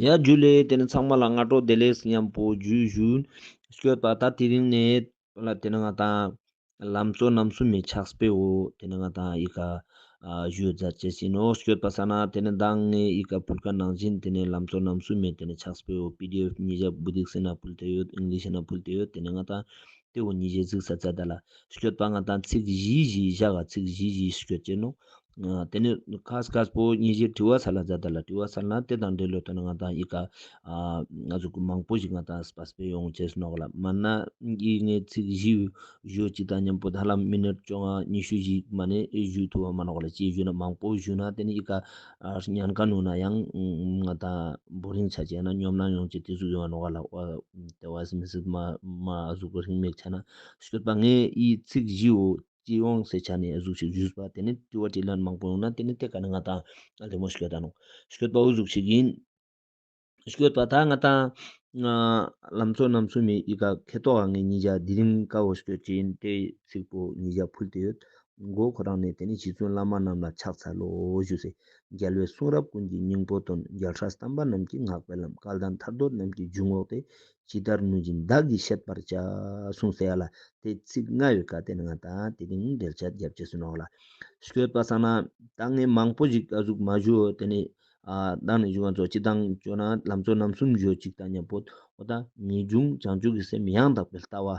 ཡ། རྒྱུད་ལས་དེ་ནི་ཚང་མ་ལ་སྔ་དྲོ་བདེ་ལེགས་སྙམ་པོ་རྒྱུ་བཞུད། བསྐྱོད་པ་ད་དེ་རིང་ནས་བོད་ལ་དེ་ནི་ང་དང། ལམ་གཙོ་རྣམ་གསུམ་མའི་ཕྱག་སྤེལ་འོ་དེ་ནི་ང་དང་ཡི་ག། བཞུད་རྫ་བཅས་བྱིན་ནོ་བསྐྱོད་པ་ས་ན་དེ་ནི་མདང་ལྔའི་ཡི་ག་བུར་ཁ་ནང་བཞིན་དེ་ནི་ལམ་གཙོ་རྣམ་གསུམ་མའི་དེ་ནི་ཕྱག་སྤེལ་འོ pdf ཉིས་བརྒྱ་བུ་སྡིག་སེ་ན་བུལ་དེ་ཡོད་ཨིང་ལིཤ་ན་བུལ་དེ་ཡོད་དེ་ནི་ང་དང། དེ་འོ་ཉིས་བརྒྱ་ཚིག་ས་ཙད་ད་ལ། བསྐྱོད་པ་ང་དང་ཚིག་བཞི་བཞི་བཞག་ཚིག་བཞི་བཞི་བསྐྱོད་བྱེད་ནོ། དེ་ནས་ཁ་སྐ་སྤོ་སྙི་བཞིར་དྲི་བ་ཚར་ལ་ཛ་དར་ལ་དྲི་བ་ཚར་ན་དེ་དང་འབྲེལ་ལོ་དོན་ང་དང་ཡི་ག་ང་ཚོ་གུ་མང་པོ་ཞིག་ང་དང་སྤ་སྤེ་ཡོང་ཆེ་སུ་ནོག་ལ་མ་ན་ཡིག་ངེ་ཚིག་བཞི་བཞོ་གཅིག་དང་མཉམ་པོ་དྷ་ལམ་མི་ནོར་བཅོ་ང་ཉི་ཤུ་བཞིག་མ་ནས་བཞུ་ཐུ་བ་མ་ནོག་ལ་བཅས་བཞུ་ན་མང་པོ་བཞུ་ན་དེ་ནས་ཡི་ག་ཉན་ག་ནུ་ན་ཡང་ང་དང་འབོ་རིང་ཆ་བྱས་ན་སྙོམ་ན་ཡོང་ཆེ་དེ་གཟུགས་ཡོང་བ་ནོག་ལ་དེ་བ་སི་མི་སི་མ་གཟུགས་པོ་རིང་མེག་ཆ་ན་སྐྱོད་པ་ངེ་ཡིག་ཚིག་བཞི་བོ། ཀྱིས་དབང་ཟེར་བྱ་ནས་གཟུགས་ཤིག་བཞུགས་པ་དེ་ནི་བཀྲི་བ་དྲིས་ལན་མང་པོ་ཡོང་ན་དེ་ནི་དེ་ག་ནི་ང་དང་ང་ལྷའི་མོ་ཞིག་ཡོད་ད་ནོ། ཞགོད་པའོ་གཟུགས་ཤིག་ཡིན། ཞགོད་པ་ད་ང་དང། ང། ལམ་ཚོགས་རྣམས་སུ་མི་ཡི་ག་ཁེ་ཏོག་ག་ངའི་མྱི་བྱ་དེ་རིང་ཀ་བོ་ཞགོད་ཅི་ཡིན་དེ་ཚིག་པོ་མྱི་བྱ་ཕུལ་དེ་ཡོད། མགོ་ཁོ་རང་ནས་དེ་ནི་ཞི་བཙུན་བླ་མ་རྣམས་ལ་ཕྱག་འཚལ་ལོ་ཞུ་ཟེར། རྒྱལ་བའི་གསུང་རབ་ཀུན་གྱི་སྙིང་པོ་དོན་རྒྱལ་ཧྲཱི་སྟམས་པ་རྣམས་ཀྱི་བསྔགས་པའི་ལམ་སྐལ་ལྡན་ཐར་འདོད་རྣམས་ཀྱི་རྒྱུ་བསྔོགས་ཏེ་ཇི་ལྟར་ནུས་ཀྱིས་བདག་གིས་བཤད་པར་བྱ། གསུངས་སེ་ཡ་ལ། དེ་ཚིག་ལྔ་ཡོད་ཀ་དེ་ལྔ་དང་དེ་དེ་ཉིད་འགྲེལ་བྱ་རྒྱབ་ཅེས་ཟེར་ནོ་ལ། བཤད་པ་ས་ན་བདག་ངས་མང་པོ་ཞིག་གཟུགས་མ་བཞུ་དེ་ནས། བདག་ནི་བཞུ་བ་ཚོ་སྤྱི་དང་སྤྱོད་ན་ལམ་ཚོ་རྣམ་གསུམ་བཞོ་གཅིག་དང་མཉམ་པོ། འོ་ད་ངས་འབྱུང་བྱང་ཆོས་ཀྱི་སེམས་ཡང་དག་པའི་ལྟ་བ།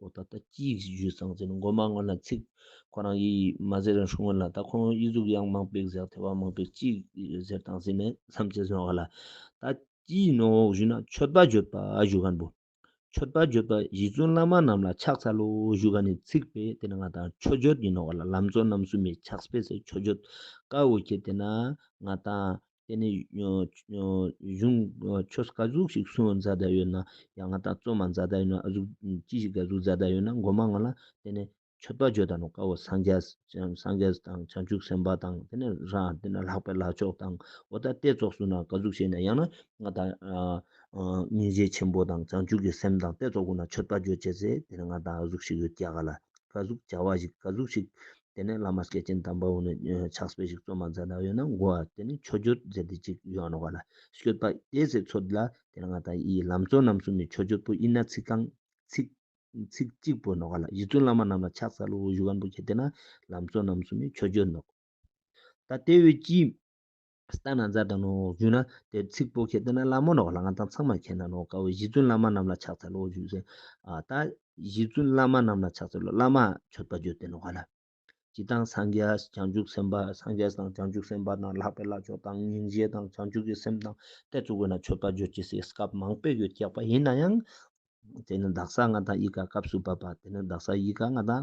ཨོ་ད་ལྟ་སྐྱིད་བཞུད་སང་ཟིན་མགོ་མ་སྔོན་ལ་ཚིག། ཁོ་རང་ཡིད་ཡིད་མ་ཟེར་ཧྲུལ་སྔོན་ལ་ད་ཁོང་ཡིད་གཟུགས་གཡང་མང་པིག་ཟེག་ཐལ་བ་མང་པིག་སྐྱིད་ཟེར་དང་ཟིན་མེད་བསམ་བྱེད་བཟོད་ག་ལ། ད་སྐྱིད་ནོ་འོག་བཞུད་ན་ཆོད་པ་བརྗོད་པ་བཞུད་ག་འབུ། ཆོད་པ་བརྗོད་པ་གཞི་བཙུན་བླ་མ་རྣམས་ལ་ཕྱག་འཚལ་ལོ་བཞུད་ག་ནི་ཚིག་པས་དེ་ནི་ང་དང་ཆོས་བརྗོད་ཡིན་ནོ་ག་ལ་ལམ་གཙོ་རྣམ་གསུམ་མའི་ཕྱག་སྤེལ་ཟེར་ཆོས་བརྗོད་དཀའ་འོ་ཁྱེད་དེ་ན་ང་དང་དེ་ནས་གཞུང་ཆོས་དགའ་གཟུགས་ཤིག་གསུང་བ་མཛའ་ད་ཡོད་ན་ཡང་ང་དང་བཙོན་མ་མཛའ་ད་ཡོད་ན་ཨ་གཟུགས་ཅི་ཞིག་དགའ་གཟུགས་མཛའ་ད་ཡོད་ན་མགོ་མ་ང་ལ་དེ་ནས་མཆོད་པ་བརྗོད་ད་ནོ་དཀའ་བོ་སངས་རྒྱས་དང་བྱང་ཆུབ་སེམས་དཔའ་དང་དེ་ནས་རང་དེ་ནས་ལྷག་པའི་ལག་ཆོག་དང་འོ་ད་ལྟའི་ཚོགས་སུ་ན་དགའ་གཟུགས་བྱེད་ན་ཡང་ན་ང་དང་སྙིང་རྗེ་ཆེན་པོ་དང་བྱང་ཆུབ་ཀྱི་སེམས་དང་ལྟའི་ཚོགས་ཀུན་ན་མཆོད་པ་བརྗོད་བྱས་ཚེ་དེ་ནས་ང་དང་ཨ་གཟུགས་ཤིག་ཡོད་ཀྱ་ག་ལ་དགའ་གཟུགས་བྱ་བ་ཞིག་དགའ་གཟུགས་ཤིག་དེ་ནས་བླ་མ་སྐྱེས་ཆེན་དམ་པ་བོ་ནས་ཕྱག་སྤེལ་ཞིག་བཙོ་མ་མཛད་ན་ཡོད་ན་བསྒོ་བ་དེ་ནི་ཆོས་བརྒྱུད་མཛད་དེ་གཅིག་ཡོད་ནོ་བ་ལ་ཤོད་པ་དེ་ཟེར་ཚོད་ལ་དེ་ལ་ང་དང་ཡི་ལམ་གཙོ་རྣམ་གསུམ་ནི་ཆོས་བརྒྱུད་པོ་ཡིན་ན་ཚིག་གང། ཚིག། ཚིག་གཅིག་པོ་ནོ་བ་ལ་རྗེ་བཙུན་བླ་མ་རྣམས་ལ་ཕྱག་ཚ་ལུ་བུ་བཞུགས་ཀན་པོ་བྱེད་དེ་ན་ལམ་གཙོ་རྣམ་གསུམ་ནི་ཆོས་བརྒྱུད་ནོ། ད་ལྟའི་བོད་ཀྱི། ལྟ་ན་མཛའ་དང་ནོ་བཞུགས་ན། དེར་ཚིག་པོ་ཁྱེད་ལྟ་ན་བླ་མ་ནོ་ལྷ་ང་ཚང་ཚང་མར་ཁྱེད་ན་ནོ་དཀའ་བའི་གཞི་བཙུན་བླ་མ་རྣམས་ལ་ཕྱག་འཚལ་ལོ་བཞུགས་ཟིན། ད། གཞི་བཙུན་བླ་མ་རྣམས་ལ་ཕྱག་འཚལ་ལོ་བླ་མ་མཆོད་པ་བརྗོད་དེ་ནོ་བ་ལ། ཇི་ལྟང་སངས་རྒྱས་བྱང་ཆུབ་སེམས་དཔའ་སངས་རྒྱས་དང་བྱང་ཆུབ་སེམས་དཔའ་དང་ལྷག་པའི་བླ་མཆོག་དང་སྙིང་རྗེ་དང་བྱང་ཆུབ་ཀྱི་སེམས་དང་དད་གཙོ་བས་ན་མཆོད་པ་བརྗོད་ཀྱི་སའི་སྐབས་མང་པོས་ཡོད་ཀྱག་པ་ཡིན་ན་ཡང། དེ་ནི་བདག་སར་ང་དང་ཡིད་དགའ་སྐབས་སུ་བབ་པ་དེ་ནི་བདག་སར་ཡིད་དགའ་ང་དང།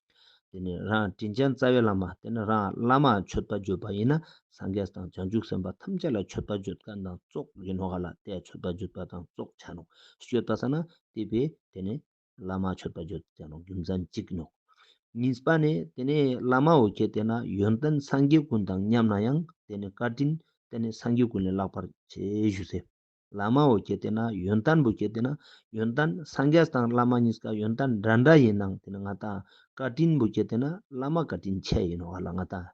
དེ་ནས་རང་དྲིན་ཅན་རྩ་བའི་བླ་མ་དེ་ནི་རང་བླ་མ་མཆོད་པ་བརྗོད་པ་ཡིན་ན་སངས་རྒྱས་དང་བྱང་ཆུབ་སེམས་དཔའ་ཐམས་ཅད་ལ་མཆོད་པ་བརྗོད་དཀའ་དང་བཙོག་ཡིན་ནོ་ག་ལ་ལྟའི་མཆོད་པ་བརྗོད་པ་དང་བཙོག་བྱ་ནོ་སྤྱོད་པ་ས་ན་བལྟས་པས་དེ་ནི་བླ་མ་མཆོད་པ་བརྗོད་བྱ་ནོ་རྒྱུ་མཚན་གཅིག་ཡིན་ནོ། གཉིས་པ་ནི་དེ་ནི་བླ་མ་འོ་ཁྱེད་དེ་ན་ཡོན་ཏན་སངས་རྒྱས་ཀུན་དང་མཉམ་ན་ཡང་དེ་ནི་བཀའ་དྲིན་དེ་ནི་སངས་རྒྱས་ཀུན་ལས་བརླག་པར་བྱའི་གཞུག་ཟེར། བླ་མའོ་སྐྱེ་དེ་ན་ཡོན་ཏན་བུ་སྐྱེ་དེ་ན་ཡོན་ཏན་སངས་རྒྱས་དང་བླ་མ་གཉིས་ཀ་ཡོན་ཏན་འདྲ་འདྲ་ཡིན་ནང་དེ་ན་ང་དང་བཀའ་དྲིན་བུ་སྐྱེ་དེ་ན་བླ་མ་བཀའ་དྲིན་ཆེ་ཡིན་ནོ་བ་ལ་ང་དང།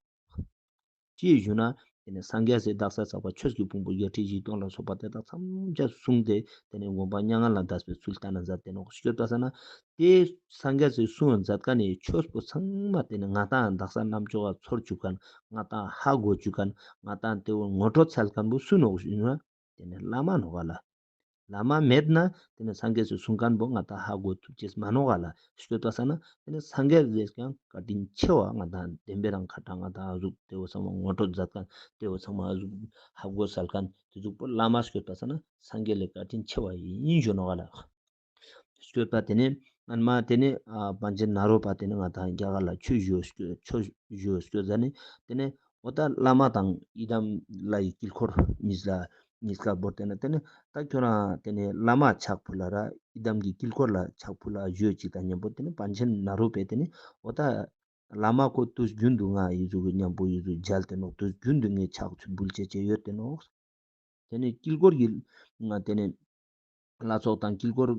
ཅེས་ཞུ་ན་དེ་ནས་སངས་རྒྱས་སའི་བདག་སར་ཟག་པ་ཆོས་ཀྱི་ཕུང་པོ་བརྒྱད་ཁྲི་བཞི་སྟོང་ལ་སོགས་པ་དེ་དག་མཚམས་སྦྱར་གསུངས་ཏེ་དེ་ནས་དགོངས་པ་སྙ་ང་ལ་བཟླས་པའི་ཚུལ་ལྟར་ན་མཛད་དེ་ནོག་སྐྱོད་པ་ས་ན་དེ་སངས་རྒྱས་སའི་གསུང་མཛད་ཀ་ནས་ཆོས་པོ་ཚང་མ་དེ་ནས་ང་དང་བདག་སར་རྣམ་སྦྱོར་བ་ཚོར་བཅུག་ག་ང་དང་ཧ་གོ་བཅུག་ག་ང་དང་དེ་བོ་ངོ་སྤྲོ་འཚལ་ག་འབུ་སུ་ནོག་ཞུ་ན། དེ་ནས་བླ་མ་ནོར་བ་ལ། བླ་མ་མེད་ན་དེ་ནས་སངས་རྒྱས་སུ་གསུང་སྐལ་འབོ་ང་དག་ཧ་གོ་ཐུབ་ཅེས་མ་ནོར་བ་ལ་བཤོལ་བཏགས་ས་ན་དེ་ནས་སངས་རྒྱས་རེས་ཀྱང་བཀའ་དྲིན་ཆེ་བ་ང་དང་ལྡན་པས་རང་ཁ་དྲང་ང་དག་གཟུགས་བདེ་བོ་ཚང་མ་ངོ་སྤྲོད་མཛད་གནས་བདེ་བོ་ཚང་མ་གཟུགས་ཧ་གོ་གསལ་གནས་དེ་གཟུགས་པོ་བླ་མ་བཤོལ་བཏགས་ས་ན་སངས་རྒྱས་ལས་བཀའ་དྲིན་ཆེ་བ་ཡིན་བཤོལ་ནོར་བ་ལ། བསྐྱོད་པ་དེ་ནི་སྔོན་མ་དེ་ནི་བང་ཆེན་ནཱ་རོ་པ་དེ་ནི་ང་དང་རྒྱ་གར་ལ་ཆོས་བཞུགས་བསྐྱོད་ས་ནི་དེ་ནི་འོ་ད་བླ་མ་དང་ཡི་དམ་བླ་ཡི་དཀྱིལ་འཁོར་གཉིས་ལ་གཉིས་ཀ་བོར་དེ་ནི་དེ་ནི་ད་ཁྱོད་རང་དེ་ནི་བླ་མ་ཆགས་ཕུ་ལ་ར་ཡི་དམ་གྱི་དཀྱིལ་འཁོར་ལ་ཆགས་ཕུ་ལ་བཞུད་ཅིག་དང་སྙམ་པོ་དེ་ནི་བང་ཆེན་ནཱ་རོ་པས་དེ་ནི་འོ་ད་བླ་མ་ཁོ་དུས་རྒྱུན་དུ་ང་ཡི་གཟུགས་ཀྱི་སྙམ་པོ་ཡི་གཟུགས་མཇལ་དེ་ནོག་དུས་རྒྱུན་དུ་ངས་ཆགས་ཚུལ་འབུལ་བྱེད་ཅེས་ཡོད་དེ་ནོག། དེ་ནི་དཀྱིལ་འཁོར་གྱི་དེ་ནི། ལ་སོགས་དང་དཀྱིལ་འཁོར་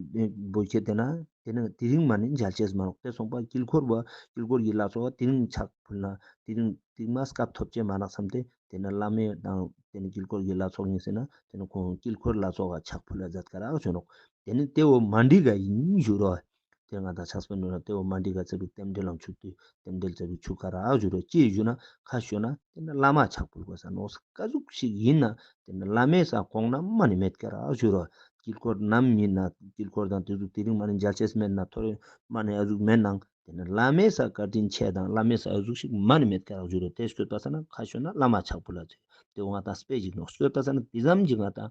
འབུལ་བྱེད་དེ་ན་དེ་ནི་དེ་རིང་མ་ནི་འཇལ་བྱེད་མ་ལགས་ཏེ་གསུངས་པ་དཀྱིལ་འཁོར་བ་དཀྱིལ་འཁོར་གྱི་ལ་སོགས་དེ་རིང་ཕྱག་ཕུལ་ན་དེ་རིང་དུས་མ་སྐབས་ཐོབ་བྱེད་མ་ལགས་སམ་སྟེ་དེ་ནི་བླ་མའི་དང་དེ་ནི་དཀྱིལ་འཁོར་གྱི་ལ་སོགས་ཡིན་སྲིད་ན་དེ་ནི་ཁོང་དཀྱིལ་འཁོར་ལ་སོགས་ཕྱག་ཕུལ་ལ་བཟླས་དཀའ་རག་བྱོས་རོགས་དེ་ནི་དེ་འོ་མ་འདྲི་ག་ཡིན་ཞུ་རོགས། དེར་ང་དང་ཕྱག་སྤེལ་ནོར་ལྷ་གཏེ་བོ་མ་འདི་ག་བཙལ་བའི་རྟེན་འབྲེལ་ལམ་ཆུ་བཏུལ་རྟེན་འབྲེལ་བཙལ་བའི་ཆུ་ཁ་རག་བཞུར་བས་ཅི་བཞུར་ན་ཁ་ཤོད་ན་དེ་ནི་བླ་མ་ཕྱག་སྤེལ་གོ་ས་ནོར་ས་དཀའ་གཟུགས་ཤིག་ཡིན་ན་དེ་ནི་བླ་མའི་ས་གོང་ན་མ་ནི་མེད་ཀྱི་རག་བཞུར་བ་དཀྱིལ་འཁོར་ནམ་མིན་ན་དཀྱིལ་འཁོར་དང་དེ་གཟུགས་དེ་རིང་མ་ནི་འཇལ་བྱེད་མེད་ན་ཐོ་རེངས་མ་ནི་ཨ་གཟུགས་མེད་ནའང་དེ་ནི་བླ་མའི་ས་བཀའ་དྲིན་ཆེ་དང་བླ་མའི་ས་ཨ་གཟུགས་ཤིག་མ་ནི་མེད་ཀྱི་རག་བཞུར་བས་དེ་གསོལ་བཏབ་ས་ན་ཁ་ཤོད་ན་བླ་མ་ཕྱག་སྤེལ་ལ་བཙལ་བས་གཏེ་བོ་ང་དང་སྤེལ་ཞིག་ནོར་གསོལ་བཏབ་ས་ན་དེ་ཙམ་གྱིས་ང་དང་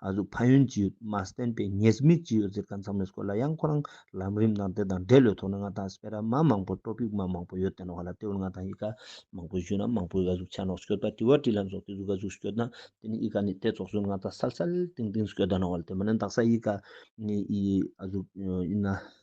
ཨ་གཟུགས་ཕ་ཡོན་ཅི་ཡོད་མ་བསྟན་པའི་ཉེས་དམིགས་ཅི་ཡོད་ཟེར་ག་མཚམས་རེས་སྐོར་ལ་ཡང་ཁོ་རང་ལམ་རིམ་ནང་དེ་དང་འདྲེས་ལོས་ཐོག་ནས་ང་དང་སྤེ་ར་མ་མང་པོ་སྤྲོ་ཕིག་མ་མང་པོ་ཡོད་དེ་ནང་བ་ལ་དེ་བོར་ང་དང་ཡི་ག་མང་པོའི་གཞོན་ནུ་མང་པོའི་ཨ་གཟུགས་ཆ་ནོག་ཤོད་པ་དེ་བ་དྲི་ལན་སོགས་དེ་གཟུགས་ཨ་གཟུགས་ཤོད་ན་དེ་ནི་ཡི་ག་ནི་དེ་ཚོགས་ཟོན་ང་དང་སལ་སལ་ཏིང་ཏིང་ཤོད་ད་ནང་བ་ལ་དེ་མ་ནི་འདག་ས་ཡི་ག་ནི་ཨ་གཟུགས་ཡིན་ན།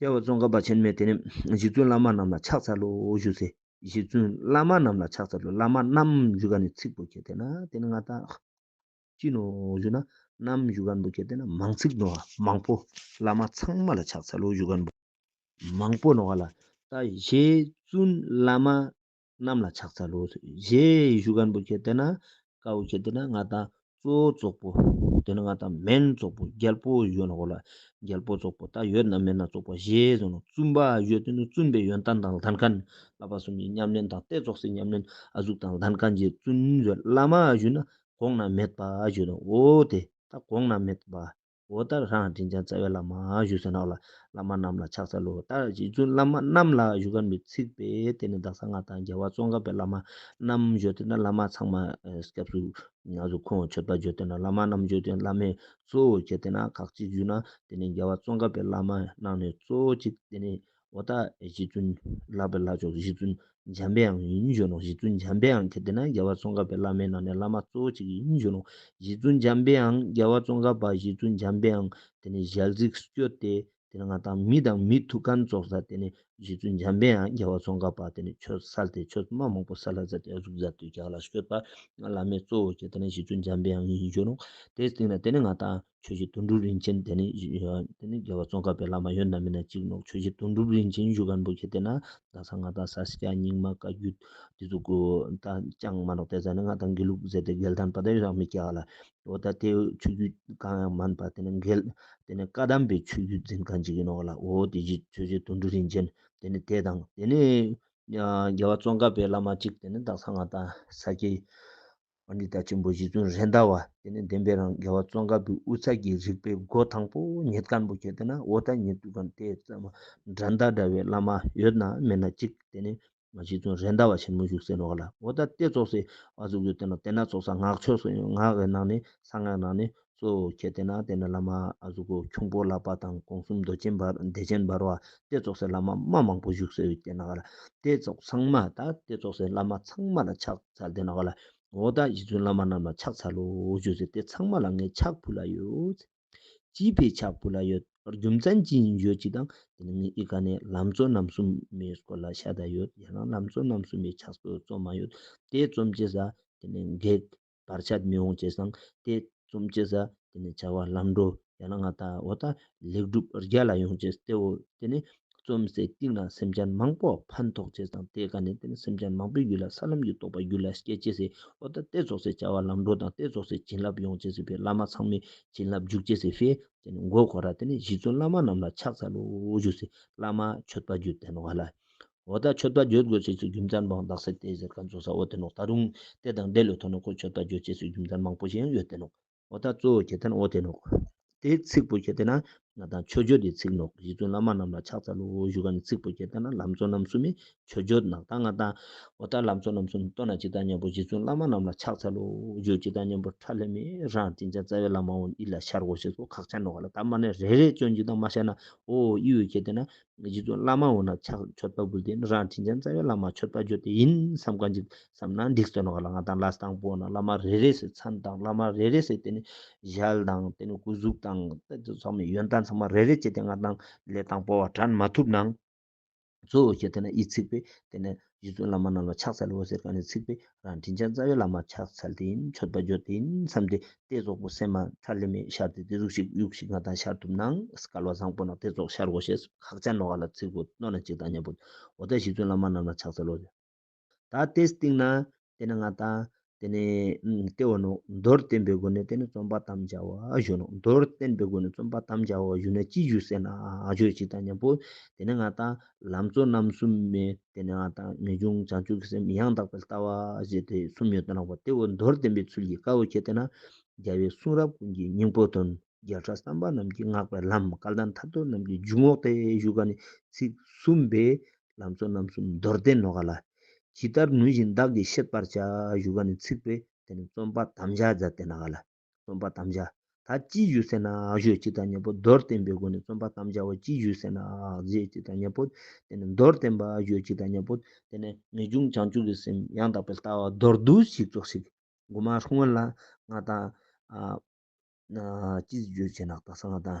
རྒྱལ་བ་ཙོང་ཁ་པ་ཆེན་མོས་དེ་ནས་གཞི་བཙུན་བླ་མ་རྣམས་ལ་ཕྱག་འཚལ་ལོ་ཞུ་ཚེ། གཞི་བཙུན་བླ་མ་རྣམས་ལ་ཕྱག་འཚལ་ལོ་བླ་མ་རྣམས་བཞུགས་ག་ནས་ཚིག་པོ་ཁྱེར་དེ་ན་དེ་ནས་ང་ད་ཅི་ནོ་ཞུ་ན་རྣམས་བཞུགས་ག་འདུག་ཁྱེར་དེ་ན་མང་ཚིག་ནོ་བ་མང་པོ་བླ་མ་ཚང་མ་ལ་ཕྱག་འཚལ་ལོ་བཞུགས་ག་འདུག། མང་པོ་ནོ་བ་ལ་ད་གཞི་བཙུན་བླ་མ་གནམ་ལ་ཕྱག་འཚལ་ལོ། ཞེས་ཞུ་གནས་པོ་ཁྱེད་དེ་ན་དཀའ་བོ་ཁྱེད་དེ་ན་ང་དང་གཙོ་བོ་ཙོག་པོ། དེ་ན་ང་དང་སྨན་ཙོག་པོ་རྒྱལ་པོ་ཡོད་ན་འོ་ལ། རྒྱལ་པོ་ཙོག་པོ་དག་ཡོད་ན་མེད་ན་ཙོག་པོ་ཞེས་གསུངས་ནས་བཙུན་པ་ཡོད་དེ་ནས་བཙུན་པའི་ཡོན་ཏན་དང་ལྷན་ཁང་ལྷ་པ་གསུམ་གྱི་ཉམས་ལེན་དང་རྟའི་ཙོག་སའི་ཉམས་ལེན་ཨ་གཟུགས་དང་ལྷན་ཁང་རྗེ་བཙུན་བརྒྱུད་བླ་མ་བཞུགས་ན་གོང་ན་མེད་པ་བརྗོད་དོ་འོ་དེ་དག་གོང་ན་མེད་པ་འོ་ད་རང་དྲིན་ཅན་རྩ་བའི་བླ་མ་བཞུགས་སེ་ནོག་ལ་བླ་མ་རྣམས་ལ་ཕྱག་འཚལ་ལོ་ད་རྗེ་བཙུན་བླ་མ་རྣམས་ལ་བཞུགས་སྒར་མི་ཚིག་པས་དེ་ནས་བདག་ས་ང་དང་རྒྱལ་བ་ཙོང་ཁ་པའི་བླ་མ་རྣམས་བཞུགས་དེ་ན་བླ་མ་ཚང་མ་སྐྱབས་སུ་ཡང་སུ་ཁོང་མཆོད་པ་བརྗོད་དེ་ན་བླ་མ་རྣམས་བཞུགས་དེ་བླ་མས་གཙོ་བོ་བྱས་དེ་ན་ཁག་ཅིག་བཞུགས་ན་དེ་ནས་རྒྱལ་བ་ཙོང་ཁ་པའི་བླ་མ་རྣམས་ནས་གཙོ་བོ་ཅིག་དེ་ནས་འོ་ད་རྗེ་བཙུན་བསླབ་པའི་ལྷ་ཆོག་རྗེ་བཙུན་འཇམ་པའི་ཡང་ཡིན་བརྗོད་ནོ་རྗེ་བཙུན་འཇམ་པའི་ཡང་གལ་ཏེ་ན་རྒྱལ་བ་ཙོང་ཁ་པའི་བླ་མའི་ནང་ནས་བླ་མ་གཙོ་བོ་གཅིག་ཡིན་བརྗོད་ནོ་རྗེ་བཙུན་འཇམ་པའི་ཡང་རྒྱལ་བ་ཙོང་ཁ་པ་རྗེ་བཙུན་འཇམ་པའི་ཡང་དེ་ནས་ཞལ་གཟིགས་སུ་གྱུར་ཏེ་དེ་ནས་ང་དང་མི་དང་མི་ཐུགས་ཁམས་སྩོགས་ས་དེ་ནས་རྗེ་བཙུན་འཇམ་པའི་ཡང་རྒྱལ་བ་ཙོང་ཁ་པ་དེ་ནས་ཆོས་གསལ་ཏེ་ཆོས་སྨྲ་མང་པོ་ས་ལྷ་ཟ་ཏེ་གཟུགས་ཟ་ཏུ་བྱ་བ་ལ་སྐྱོད་པ་ང་བླ་མའི་གཙོ་བོ་གཅིག་དེ་ནས་རྗེ་བཙུན་འཇམ་པའི་ཡང་ཡིན་བརྗོད་ནོ་དེའི་སྟེང་ན་དེ་ནས་ང་དང། ཆོས་རྗེ་དོན་གྲུབ་རིན་ཆེན་དེ་ནི་རྒྱལ་བ་ཙོང་ཁ་པའི་བླ་མ་ཡོད་ན་མེད་ན་གཅིག་ནོ་ཆོས་རྗེ་དོན་གྲུབ་རིན་ཆེན་གཞུ་དཀར་འབུ་ཁྱེད་བལྟས་ན་རྡ་ས་ང་དང་ས་སྐྱ་རྙིང་མ་བཀའ་བརྒྱུད་དེ་ཚོ་གོ་ད་ཅང་མ་ནོག་བལྟས་ཙང་ནི་ང་དང་འགལ་ལུགས་ཟེར་ཏེ་འགལ་ཐང་པ་དེ་ཡང་མི་སྐྱ་ག་ལ་འོ་ད་དེ་ཆོས་བརྒྱུད་གང་ཡང་མིན་པ་དེ་ནི་འགལ་དེ་ནི་བཀའ་གདམས་པའི་ཆོས་བརྒྱུད་འཛིན་གང་བྱེད་ཀྱི་ནོ་ག་ལ་འོ་དེ་རྗེས་ཆོས་རྗེ་དོན་གྲུབ་རིན་ཆེན་དེ་ནི་དེ་དང་དེ་ནི་རྒྱལ་བ་ཙོང་ཁ་པའི་བླ་མ་གཅིག་དེ་ནི་རྡ་ས་ང་དང་ས་སྐྱའི་བ་འདི་ལྟར་ཆེན་པོ་བཞི་བཙུན་རེ་འདའ་བ་དེ་ནི་བདེན་པའི་རང་དགེ་བ་ཙོང་ཁ་བུའི་དབུ་ཚད་ཀྱི་རིགས་པའི་སྒོ་དང་པོ་ཉིད་སྐམ་པོ་ཁྱེར་ཏེ་ན་འོ་ད་ཉིད་དུ་གང་དེ་ཙམ་དགྲ་འདའ་འདྲ་བའི་བླ་མ་ཡོད་ན་མེད་ན་གཅིག་དེ་ནི་བཞི་བཙུན་རེ་འདའ་བ་ཆེན་མོ་བཞུགས་སའི་ནོར་བ་ལ་འོ་ད་སྟེ་ཙོག་སའི་བ་གཟུགས་ཡོད་དེ་ན་དེ་ན་ཙོག་ས་ངག་ཆོས་སུ་ཡོད་ངག་གི་ནང་ནས་གསང་སྔགས་ནང་ནས་གཙོ་བོ་ཁྱེད་བསྟེན་ན་བསྟེན་ན་བླ་མ་གཟུགས་པོ་ཁྱུང་པོ་ལགས་པ་དང་དགོངས་གསུམ་མདོ་ཆེན་འབར་བདེ་ཆེན་འབར་བ་སྟེ་རྫོགས་སའི་བླ་མ་མ་མང་པོ་བཞུགས་སའི་བསྟེན་ནག་ལ། སྟེ་རྫོགས་ཚང་མ་དང་སྟེ་རྫོགས་སའི་བླ་མ་ཚང་མ་ལ་ཕྱག་འཚལ་བསྟེན་ནག་ལ། འོག་དག་གཞི་བཙུན་བླ་མ་རྣམས་ལ་ཕྱག་འཚལ་ལོ་བརྗོད་ཚེ་དེ་ཚང་མ་ལ་ངས་ཕྱག་ཕུལ་ལ་ཡོད། སྤྱི་ཕའི་ཕྱག་ཕུལ་ལ་ཡོད། རྒྱུ་མཚན་ཅི་ཡིན་བརྗོད་ཅིག་དང་དེ་ནས་ངས་ཨི་ཀ་ནས་ལམ་གཙོ་རྣམ་གསུམ་མའི་སྐོར་ལ་ཤ་ད་ཡོད་ཡང་ན་ལམ་གཙོ་རྣམ་གསུམ་མའི་ཕྱག་སྲོལ་རྩོམ་མ་ཡོད་དེ་རྩོམ་བྱེད་ས་དེ་ནས་འགེགས། བར་ཆད་མི་འོང་བྱས་ཙང་དེ་རྩོམ་བྱེད་ས་དེ་ནས་བྱ་བ་ལམ་འགྲོ་ཡང་ན་ང་ད་འོ་ད་ལེགས་འགྲུབ་རྒྱ་ལ་ཡོང་བྱས་ཏེའོ་དེ་ནས་རྩོམ་སའི་སྟེང་ན་སེམས་ཅན་མང་པོ་ཕན་ཐོག་བྱས་ཙང་དེ་ག་ནས་དེ་ནས་སེམས་ཅན་མང་པོའི་ཡུལ་ལ་ས་ལམ་གྱི་རྟོགས་པ་རྒྱུད་ལ་སྐྱེད་བྱས་སའི་འོ་ད་དེ་རྫོགས་སའི་བྱ་བ་ལམ་འགྲོ་དང་དེ་རྫོགས་སའི་བྱིན་རླབས་ཡོང་བྱས་སའི་བས་བླ་མ་ཚང་མའི་བྱིན་རླབས་འཇུག་བྱས་སའི་བས་དེ་ནས་མགོ་འཁོར་ར་དེ་ནས་གཞི་བཙུན་བླ་མ་རྣམས་ལ་ཕྱག་འཚལ་ལོ་བཞུགས་སའི་བླ་མ་མཆོད་པ་རྒྱུད་བསྟན་བ་ལ། འོ་ད་ཆོས་པ་བརྗོད་དགོས་ཚེ་སྲིད་རྒྱུན་རྩར་འབངས་རྡག་སྲེད་དེ་ཟེར་ག་མཛོ་ས་འོ་དེ་ནོག་ད་རུང་དེ་དང་འདྲེ་ལོས་ཐོ་ནོག་ཁོ་ཆོས་པ་བརྗོད་ཚེ་སྲིད་རྒྱུན་རྩར་མང་པོ་ཞིག་ཡང་ཡོད་དེ་ནོག། འོ་ད་གཙོ་བོ་གྱེས་ཐན་འོ་དེ་ནོག། དེ་ཚིག་པོ་གྱེས་དེ་ན་ང་དང་ཆོས་བརྗོད་དེ་ཚིག་ནོག་གཞི་བཙུན་བླ་མ་རྣམས་ལ་ཕྱག་འཚལ་ལོ་བཞུགས་ག་ནི་ཚིག་པོ་གྱེས་དེ་ན་ལམ་གཙོ་རྣམ་གསུམ་མས་ཆོས་བརྗོད་ནག་ད་ང་དང། འོ་ད་ལམ་གཙོ་རྣམ་གསུམ་སྟོན་ན་ཅི་ད་སྙམ་པོ་གཞི་བཙུན་བླ་མ་རྣམས་ལ་ཕྱག་འཚལ་ལོ་བཞུགས་ཅི་ད་སྙམ་པོ་ཁྲ་ལྷེ་མས་རང་བཀྲིན་ཅན་རྩ་བའི་བླ་མ་འོ་ཨི་ལ་ཤར་འོ་ཞེས་སོགས་ཁག་ཆ་ནོག་ག་ལ་ད་མ་ནས་རེ་རེ་བྱོན་ཅི་ད་མ་ཤར་ན་འོ་ཨི་འོ་གྱེས་དེ་ན་ངེད་ཀྱི་བླ་མ་འོ་ན་ཕྱག་མཆོད་ལྟ་བུ་དེ་ནི་རང་དྲིན་ཅན་རྩ་བའི་བླ་མ་མཆོད་པ་ཇོ་དེ་ཡིན་བསམ་གང་ཅི་བསམ་ན་འགྲིག་བརྩོན་བ་ལ་ང་དང་ལ་སྟག་པོ་འོ་ན་བླ་མ་རེ་རེ་སའི་མཚན་དང་བླ་མ་རེ་རེ་སའི་དེ་ནི་ཞལ་དང་དེ་ནི་སྐུ་གཟུགས་དང་སྟེ་དེ་ཚང་མའི་ཡོན་བདག་ཚང་མ་རེ་རེ་བྱས་ཏེ་ང་དང་ལས་དང་པོ་བ་དྲན་མ་ཐུབ་ན། གཙོ་བོ་ཞེས་དེ་ནི་དབྱེ་ཚིག་པས་དེ་ནི་རྗེ་བཙུན་བླ་མ་རྣམས་ལ་ཕྱག་འཚལ་ལོ་ཟེར་ག་ནས་ཚིག་པའི་རང་དྲིན་ཅན་རྩ་བའི་བླ་མར་ཕྱག་འཚལ་ཏེ་མཆོད་པ་བརྗོད་དེ་མཚམས་དེ་ལྟའི་རྫོགས་པོ་སེམས་མ་མཐར་ལེན་མེད་ཤར་ཏེ་དེ་གཟུགས་ཤིག་དབྱུག་ཤིག་ང་དང་ཤར་ཐུབ་ན་སྐལ་བ་བཟང་པོ་ན་དེ་རྫོགས་ཤར་གོ་ཞེས་ཁག་ཅན་ནོ་ག་ལ་ཚིག་གོ་རྣོ་ན་གཅིག་དང་གཉེན་པོ་འོ་ད་རྗེ་བཙུན་བླ་མ་རྣམས་ལ་ཕྱག་འཚལ་ལོ། ད་དེས་སྟེང་ན་དེ་ནི་སྔགས་དང། དེ་ནི། ལྟེ་བ་ནོ། མདོར་བསྟན་པའི་སྒོ་ནས་དེ་ནི་རྩོམ་པ་དམ་བཅའ་བ་གཞོན་ནོ། མདོར་བསྟན་པའི་སྒོ་ནས་རྩོམ་པ་དམ་བཅའ་བ་གཞོན་ནོ་ཅི་བཞུགས་ཟེར་ན། ཆོས་གཅིག་དང་མཉམ་པོ། དེ་ནི་སྔགས་དང། ལམ་གཙོ་རྣམ་གསུམ་མེ། དེ་ནི་སྔགས་དང། ངེས་འབྱུང་བྱང་ཆུབ་ཀྱི་སེམས་ཡང་དག་པའི་ལྟ་བ། ཞེས་དེ་གསུམ་ཡོན་ཏན་རགས་པ་སྟེ་འོ་མདོར་བསྟན་པའི་ཚུལ་གྱིས་དཀར་བོ་ཁྱེར་ཏེ་ན། རྒྱལ་བའི་གསུང་རབ་ཀུན་གྱི་སྙིང་པོ་དོན། བརྒྱ་ཕྲག་བསམ་པ་རྣམས་ཀྱིས་བསྔགས་པའི་ལམ་སྐལ་ལྡན་ཐར་ཐོར་རྣམས་ཀྱི་འཇུག་ངོགས་ཏེ་བཞུགས་པ་ནི་ཚིག་གསུམ་པའི་ལམ་གཙོ་རྣམ་གསུམ་མདོར་བསྟན་ནོ་ག་ལ། ཇི་ལྟར་ནུས་བཞིན་བདག་གིས་ཤེས་པར་བྱ། བཞུགས་པ་ནི་ཚིག་པའི་དེ་ནི་རྩོམ་པ་དམ་བཅའ་བརྫ་བསྟན་ན་ག་ལ། རྩོམ་པ་དམ་བཅའ་ད་ཅིའི་ཞུས་ཟེར་ན་ཞོ་སྤྱི་དང་གཉེན་པོ་མདོར་བསྟན་པའི་སྒོ་ནས་རྩོམ་པ་དམ་བཅའ་བ་ཅིའི་ཞུས་ཟེར་ན་རྫས་སྤྱི་དང་གཉེན་པོ་དེ་ནི་མདོར་བསྟན་པ་ཞོ་སྤྱི་དང་གཉེན་པོ་དེ་ནི་ངེས་འབྱུང་བྱང་ཆུབ་ཀྱི་སེམས་ཡང་དག་པའི་ལྟ་བ་མདོར་བསྡུ་ཞིག་རྫོགས་ཤིག། དགུ་མ་ཧྲུང་བོན་ལ་ང་དང། སྤྱི་ཞུས་ཟེར་ན་རྟགས་སངས་དང།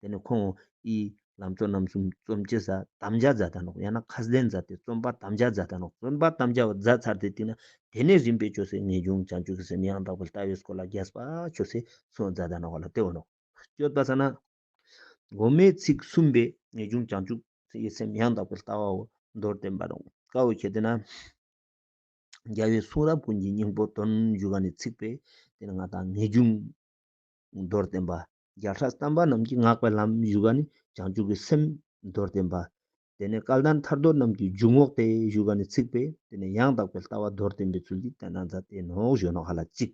དེ་ནི་ཁོང་ཨི་ལམ་གཙོ་རྣམ་གསུམ་རྩོམ་སྤྱི་ཟ་དམ་བཅའ་ཛ་ད་ནོག་ཡང་ན་ཁ་སྡེ་འཛ་ཏེ་རྩོམ་པ་དམ་བཅའ་ཛ་ད་ནོག་རྩོམ་པ་དམ་བཅའ་བ་ཛ་ཚར་ཏེ་བཏིང་ན་དེ་ནི་རིམ་པས་ཆོས་སྲིད་ངེས་འབྱུང་བྱང་ཆུབ་ཀྱི་སེམས་ཡང་དག་པའི་ལྟ་བའི་སྐོར་ལ་རྒྱས་པ་ཆོས་སྲིད་སོགས་ཛ་ད་ནོག་བ་ལ་ལྟེ་བ་ནོག་སྤྱོད་པ་ཟ་ན། སྒོ་མའི་ཚིག་གསུམ་པའི་ངེས་འབྱུང་བྱང་ཆུབ་ཀྱི་སེམས་ཡང་དག་པའི་ལྟ་བའོ་མདོར་བསྟན་པ་ནོག་དཀའ་བའི་ཁྱད་དེ་ན། རྒྱལ་བའི་གསུང་རབ་ཀུན་གྱི་སྙིང་པོ་དོན་བཞུགས་ཀ་ནས་ཚིག་པའི་དེ་ནི་ང་དང་ངེས་འབྱུང། མདོར་བསྟན་པ། བརྒྱ་ཕྲག་བསྟན་པ་རྣམས་ཀྱི་བསྔགས་པའི་ལམ་བཞུགས་པ་ནི་བྱང་ཆུབ་ཀྱི་སེམས། མདོར་བསྟན་པ། དེ་ནས་སྐལ་ལྡན་ཐར་འདོད་རྣམས་ཀྱི་འཇུག་ངོགས་ཏེ་བཞུགས་པ་ནི་ཚིག་པས་དེ་ནས་ཡང་དག་པའི་ལྟ་བ་མདོར་བསྟན་པའི་ཚུལ་གྱིས་བསྟན་དང་མཛད་དེ་ནོ་གཞོན་ནུ་ཧ་ལ་གཅིག།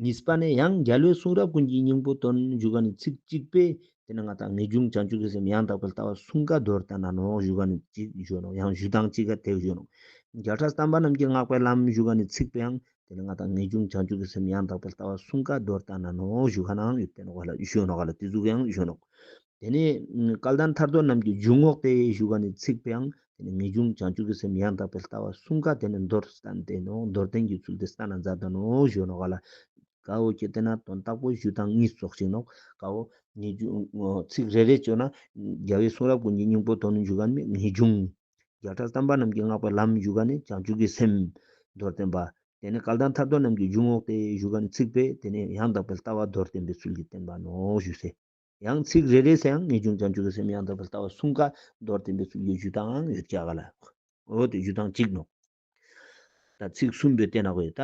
གཉིས་པ་ནས་ཡང་རྒྱལ་བའི་གསུང་རབ་ཀུན་གྱི་སྙིང་པོ་དོན་བཞུགས་པ་ནི་ཚིག་གཅིག་པས་དེ་ནས་ང་དང་ངེས་འབྱུང་བྱང་ཆུབ་ཀྱི་སེམས་ཡང་དག་པའི་ལྟ་བ་གསུང་བཀའ་མདོར་བསྟན་དང་ནོ་བཞུགས་པ་ནི་གཅིག་གཞོན་ནུ་ཡང་བཞུགས་དང་གཅིག་ག་དེ་གཞོན་ནུ། བརྒྱ་ཕྲག་བསྟན་པ་རྣམས་ཀྱི་བསྔགས་པའི་ལམ་བཞུགས་པ་ནི་ཚིག་པའང་དེ་ནི་ང་དང་ངེས་འབྱུང་བྱང་ཆུབ་ཀྱི་སེམས་ཡང་དག་པར་ལྟ་བ་གསུམ་ཀ་རྡོར་བཏགས་ན་ནོ་གཞུག་ག་ནའང་ཡོད་པས་ནོ་ག་ལ་གཞུག་ནོ་ག་ལ་དེ་གཟུགས་ཀྱང་གཞུག་ནོ། དེ་ནི་སྐལ་ལྡན་ཐར་ཐོར་རྣམས་ཀྱི་འཇུག་ངོགས་ཏེ་གཞུག་ག་ནི་ཚིག་པའང་དེ་ནི་ངེས་འབྱུང་བྱང་ཆུབ་ཀྱི་སེམས་ཡང་དག་པར་ལྟ་བ་གསུམ་ཀ་དེ་ནི་མདོར་བསྟན་ཏེ་ནོ་མདོར་བསྟན་གྱི་ཚུལ་དེ་ས་ན་འཛག་ཏུ་ནོ་གཞུག་ནོ་ག་ལ་གའོ་ཀྱེ་དེ་ན་དོན་རྟག་པོ་གཞུག་དང་གཉིས་སོགས་ཤིག་ནོ་གའོ། ངེས་འབྱུང་ཚིག་རེ་རེ་བཅོས་ན། རྒྱལ་བའི་གསུང་རབ་ཀུན་གྱི་སྙིང་པོ་དོན་ནི་འཇུག་ག་ནི་ངེས་འབྱུང། བརྒྱ་ཕྲག་དམ་པ་རྣམས་ཀྱིས་བསྔགས་པའི་ལམ་བཞུགས་ཀ་ནི་བྱང་ཆུབ་ཀྱི་སེམས། མདོར་བསྟན་པ། དེ་ནས་སྐལ་ལྡན་ཐར་ཐོར་རྣམས་ཀྱིས་རྒྱུད་བསྔོགས་ཏེ་བཞུགས་ཀ་ནི་ཚིག་དཔེ་དེ་ནས་ཡང་དག་པའི་ལྟ་བ་མདོར་བསྟན་པའི་ཚུལ་གྱིས་བསྟན་པ་ནོ་ཞུས་ཚེ། ཡང་ཚིག་རེ་རེ་སའང་ངེས་འབྱུང་བྱང་ཆུབ་ཀྱི་སེམས་ཡང་དག་པའི་ལྟ་བ་གསུངས་ཀ་མདོར་བསྟན་པའི་ཚུལ་གྱིས་རྒྱུད་དང་ཡོད་བྱ་ག་ལ། འོ་དེ་རྒྱུད་དང་གཅིག་ནོ། ད་ཚིག་གསུམ་པོས་བསྟན་ན་གོ་ད།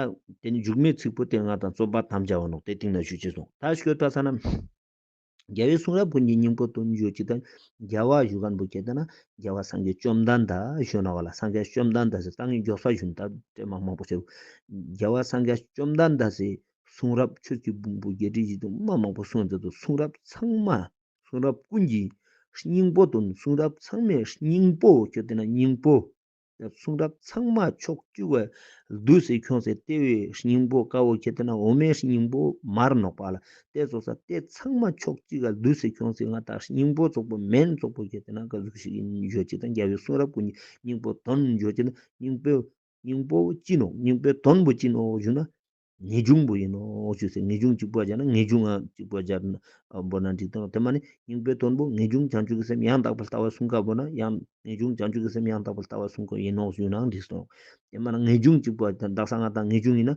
དེ་ནས་འཇུག་མའི་ཚིག་པོ་སྟེ་ལྔ་དང་རྩོམ་པ་དམ་བཅའ་བ་ནོ་དེ་སྟེང་ན་ཞུས་ཅེས་གསུངས་ད་ཤོད་ད་ས་ན། རྒྱལ་བའི་གསུང་རབ་ཀུན་གྱི་སྙིང་པོ་དུ་འགྱུར་ཅིག་དང། རྒྱལ་བ་བཞུགས་སྒར་འབུལ་བྱེད་ལྟ་ན། རྒྱལ་བ་སངས་རྒྱས་བཅོམ་ལྡན་འདས་གཞོན་ནུ་བ་ལ་སངས་རྒྱས་བཅོམ་ལྡན་འདས་སུ་ཏང་གི་མགྱོགས་ས་བཞོན་ལྟ་སྤྲེལ་མ་མང་པོ་བྱེད། རྒྱལ་བ་སངས་རྒྱས་བཅོམ་ལྡན་འདས་སུ་གསུང་རབ་ཆོས་ཀྱི་བུང་བུ་བརྒྱད་ཁྲི་བཞི་སྟོང་མ་མང་པོ་གསུང་མཛད་དུ་གསུང་རབ་ཚང་མ་གསུང་རབ་ཀུན་གྱི་སྙིང་པོ་དུ་གསུང་རབ་ཚང་མའི་སྙིང་པོ་བྱེད་ལྟ་ན་སྙིང་པོ། གསུང་རབ་ཚང་མ་ཕྱོགས་བཅུ་བའི་བདུད་སྲིན་ཁྱོད་ཚེ་ལྟེ་བའི་སྙིང་པོ་དཀར་བོ་ཁྱེད་ལྟེ་ན་འོ་མའི་སྙིང་པོ་མར་ནོག་པ་ལ་ལྟེ་བཙོག་ས་ལྟེ་ཚང་མ་ཕྱོགས་གཅིག་ག་བདུད་སྲིན་ཁྱོད་ཚེ་མངའ་བདག་སྙིང་པོ་བཙོག་པོ་མེན་བཙོག་པོ་ཁྱེད་ལྟེ་ན་ག་གཟུགས་ཞིག་འཇོ་གཅིག་དང་རྒྱལ་བའི་གསུང་རབ་ཀུན་གྱི་སྙིང་པོ་དོན་འཇོ་གཅིག་ན་སྙིང་པོ་སྙིང་པོ་ཅི་ནོག་སྙིང་པོ་དོན་པོ་ཅི་ནོག་བཞུགས་ན་ངེས་འབྱུང་པོ་ཡིན་ནོ་ཞེས་ཟེར་ངེས་འབྱུང་གཅིག་པོ་སྦྱར་ན་ངེས་འབྱུང་ངམ་གཅིག་པོ་སྦྱར་ན་པོ་ན་འགྲིག་སྟངས་དེ་མ་ནི་སྙིང་པོའི་དོན་པོ་ངེས་འབྱུང་བྱང་ཆུབ་ཀྱི་སེམས་ཡང་དག་པར་ལྟ་བ་གསུམ་ཀ་པོ་ན་ཡང་ངེས་འབྱུང་བྱང་ཆུབ་ཀྱི་སེམས་ཡང་དག་པར་ལྟ་བ་གསུམ་ཀ་ཡིན་ནོ་ཞུས་ན་འགྲིག་སྟངས་དེ་མ་ན་ངེས་འབྱུང་གཅིག་པོ་དང་བདག་གསང་སྔགས་དང་ངེས་འབྱུང་ཡིན་ན་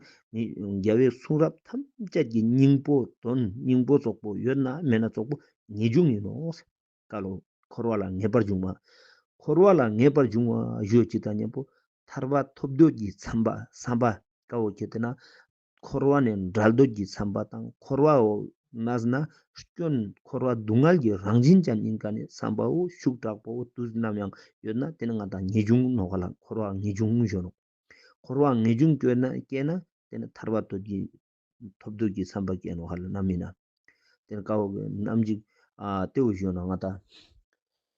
རྒྱལ་བའི་གསུང་རབ་ཐམས་ཅད་ཀྱི་སྙིང་པོ་དོན་སྙིང་པོ་རྫོགས་པོ་ཡོད་ན་མེད་ན་རྫོགས་པོ་ངེས་འབྱུང་ཡིན་ནོ། བཀའ་ལུང། འཁོར་བ་ལ་ངེས་པར་འབྱུང་བ། འཁོར་བ་ལ་ངེས་པར་འབྱུང་བ་གཞོལ་བྱེད་དང་གཉེན་པོ་ཐར་པ་ཐོབ་འདོད་ཀྱི་འཚམས་པ་བསམ་པ་དཀའ་བོ་ཁྱེད་དེ་ན། འཁོར་བ་ནས་འབྲལ་འདོད་ཀྱི་འཚམས་པ་དང་འཁོར་བ་འོག་ན་ཟིན་ན་སྐྱོན་འཁོར་བ་སྡུག་བསྔལ་གྱི་རང་བཞིན་ཅན་སྙིང་ག་ནས་བསམ་པའོ་ཤུགས་དྲག་པོའོ་དུས་ནམ་ཡང་ཡོད་ན་དེ་ནི་ང་དང་ངེས་འབྱུང་ནོ་ག་ལ་འཁོར་བ་ངེས་འབྱུང་གཞོན་ནོ། འཁོར་བ་ངེས་འབྱུང་སྐྱེ་ན་དེ་ནི་ཐར་པ་འདོད་ཀྱི་ཐོབ་འདོད་ཀྱི་བསམ་པ་སྐྱེ་ནོ་ཧ་ལ་ནམ་མི་ན། དེར་དཀའ་བ་གོས་རྣམས་འཇིག། ལྟེ་བ་གཞོན་ན་ང་དང།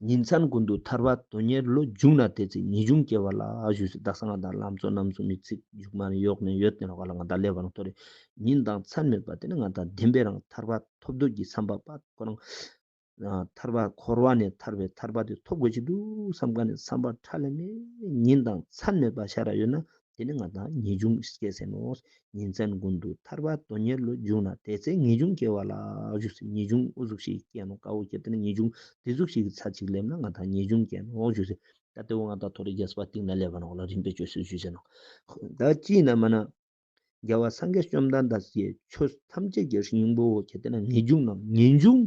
ཉིན་མཚན་ཀུན་ཏུ་ཐར་བ་དོན་གཉེར་བློ་འཇུག་ན་དེ་ཚེ་ངེས་འབྱུང་སྐྱེ་བ་ལ་བཞུགས་སུ་གདགས་ས་ང་དང་ལམ་གཙོ་རྣམས་སུ་མི་ཚིག་འཇུག་མ་གཡོགས་ནས་ཡོད་དེ་ནོ་ཧ་ལ་ང་དང་ལས་བར་མཐོ་རེ་ཉིན་དང་མཚན་མེད་པ་དེ་ནི་ང་དང་ལྡན་པའི་རང་ཐར་བ་ཐོབ་འདོད་ཀྱི་བསམ་པ་པ་ཁོ་རང། ཐར་པ་འཁོར་བ་ནས་ཐར་པའི་ཐར་པ་དེ་ཐོབ་དགོས་ཀྱི་འདུག་བསམ་ག་ནས་བསམ་པར་ཁྲ་ལེ་མེ་ཉིན་དང་མཚན་མེད་པ་ཤ་ར་ཡོད་ན་དེ་ནི་ང་དང་ངེས་འབྱུང་སྐྱེ་ཟེར་ནོ། ཉིན་མཚན་དགུན་དུ་ཐར་པ་དོན་གཉེར་ལོ་རྒྱུགས་ན་དེ་ཚེ་ངེས་འབྱུང་སྐྱེ་བ་ལ་བཞུགས་ཚེ་ངེས་འབྱུང་ཨུ་གཟུགས་ཤིག་སྐྱེ་ནོ་དཀར་བོ་སྐྱེ་དེ་ནི་ངེས་འབྱུང་བདེ་གཟུགས་ཤིག་གི་ཚར་གཅིག་སླེབས་ན་ང་དང་ངེས་འབྱུང་སྐྱེ་ནོ་བཞུགས་ཚེ། ད་ལྟེ་བོ་ང་དང་ཐོ་རེ་རྒྱལ་སྲིད་པ་སྟེང་ན་སླེབས་པ་ནོར་ལ་རིམ་པས་བཅོས་སུ་བཞུགས་ཟེར་ནོ། ད་ཅིས་ན་མ་ན། རྒྱལ་བ་སངས་རྒྱས་བཅོམ་ལྡན་འདས་ཀྱི་ཆོས་ཐམས་ཅད་ཀྱི་རིགས་སྙིང་པོ་ཁྱེད་དེ་ན་ངེས་འབྱུང་ནམ་ངེས་འབྱུང་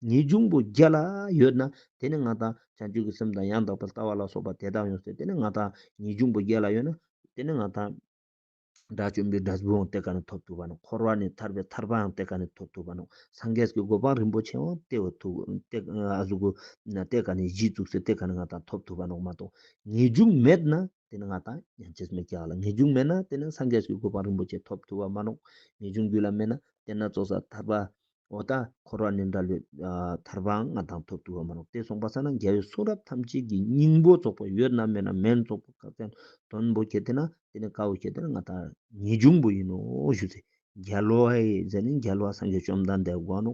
ངེས་འབྱུང་པོ་བརྒྱད་ལ་ཡོད་ན་དེ་ནི་ང་དང་བྱང་ཆུབ་ཀྱི་སེམས་དང་ཡང་དག་པར་ལྟ་བ་ལ་སོགས་པ་དེ་དག་ཡོད་ཚད་དེ་ནི་ང་དང་ངེས་འབྱུང་པོ་བརྒྱད་ལ་ཡོད་ན་དེ་ནི་ང་དང། དགྲ་བཅོམ་པའི་དགྲ་བོའང་དེ་ཀ་ནས་ཐོབ་ཐུབ་པ་ནོ་འཁོར་བ་ནས་ཐར་པའི་ཐར་པའང་དེ་ཀ་ནས་ཐོབ་ཐུབ་པ་ནོ་སངས་རྒྱས་ཀྱི་གོ་འཕང་རིན་པོ་ཆེའང་དེ་བས་ཐུབ་དེ་ཀ་ནས་བཞི་བཙུགས་ཚེ་དེ་ཀ་ནས་ང་དང་ཐོབ་ཐུབ་པ་ནོ་མ་གཏོགས་ངེས་འབྱུང་མེད་ན་དེ་ནི་ང་དང་ཡང་ཅིས་མི་ཁྱག་ལ་ངེས་འབྱུང་མེད་ན་དེ་ནི་སངས་རྒྱས་ཀྱི་གོ་འཕང་རིན་པོ་ཆེ་ཐོབ་ཐུབ་བ་མ་ནོངས་ངེས་འབྱུང་རྒྱུད་ལ་མེད་ན་དེ་ན་ཙོག་ཟ་ཐར་པ་འོ་ད་འཁོར་བ་ནི་འདྲ་ལོས། ཐར་པའང་ང་དང་ཐོབ་ཐུབ་བ་མ་ནོངས་དེ་སོང་པ་ས་ན་རྒྱལ་བའི་གསུང་རབ་ཐམས་ཅད་ཀྱི་སྙིང་པོ་རྫོགས་པ་ཡོད་ནམ་མེད་ན་མེད་རྫོགས་པ་བཀའ་བསྟན་དོན་པོ་ཁྱེད་དེ་ན་དེ་ནི་དཀའ་བོ་ཁྱེད་དེ་ན་ང་དང་ངེས་འབྱུང་པོ་ཡིན་ནོ་ཞུ་ཚེ་རྒྱལ་བ་ཨེ་ཛེ་ནི་རྒྱལ་བ་སངས་རྒྱས་བཅོམ་ལྡན་འདས་དགོངས་ནོ།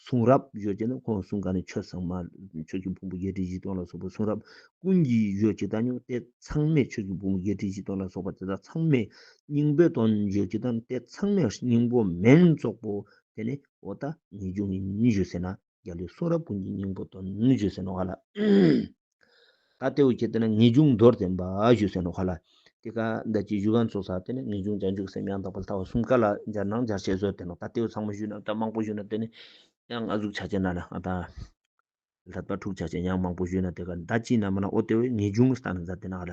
གསུང་རབ་ཡོད་ཅེ་ན་ཁོང་གསུང་ག་ནི་ཆོས་གསང་མ། ཆོས་ཀྱི་ཕུང་པོ་བརྒྱད་ཁྲི་བཞི་སྟོང་ལ་སོགས་པའི་གསུང་རབ་ཀུན་གྱི་ཡོད་ཅེ་ད་ཉོན་ཏེ་ཚང་མས་ཆོས་ཀྱི་ཕུང་པོ་བརྒྱད་ཁྲི་བཞི་སྟོང་ལ་སོགས་པ་དེ་དག་ཚང་མས་སྙིང་པོའི་དོན་ཡོད་ཅེ་ད་ནི་དེ་ཚང་མས་སྙིང་པོ་མིན་རྫོགས་པོ་དེ་ནི་ཨོ་ད་ནི་ཅུང་ཉིད་ཞུ་ཟེར་ན། རྒྱ་ལུས་གསུང་རབ་ཀུན་གྱི་སྙིང་པོ་དོན་བརྗོད་ཟེར་ནོ་ག་ལ། ད་ལྟེ་བོ་ཁྱེད་ལྟེ་ན་ངེས་འབྱུང་མདོར་བསྟན་པ་བཞུགས་ཟེར་ནོ་ག་ལ། དེ་ཀ་ཟླ་སྤྱི་བཞུགས་ག་ཚོགས་ས་ལྟེ་ན་ངེས་འབྱུང་བྱང་ཆུབ་སེམས་ཡང་དག་པ་ལྟ་བ་གསུམ་ཀ་ལ་སྦྱར་ནང་སྦྱར་བྱེད་བཟོད་དེ་ནོ་ད་ལྟེ་བོ་ཚང་མ་བཞུགས་ན་ད་མང་པོ་བཞུགས་ན་དེ་ནི་ཡང་ང་གཟུགས་ཆ་ཆེ་ན་ན་ད། ལྷ་དཔའ་ཕྲུག་ཆ་ཆེ་ཡང་མང་པོ་བཞུགས་ན་དེ་ཀ་ཟླ་སྤྱི་ན་མ་ན་ཨོ་ལྟེ་བོའི་ངེས་འབྱུང་ས་ན་སྦྱར་དེ་ན་ག་ལ།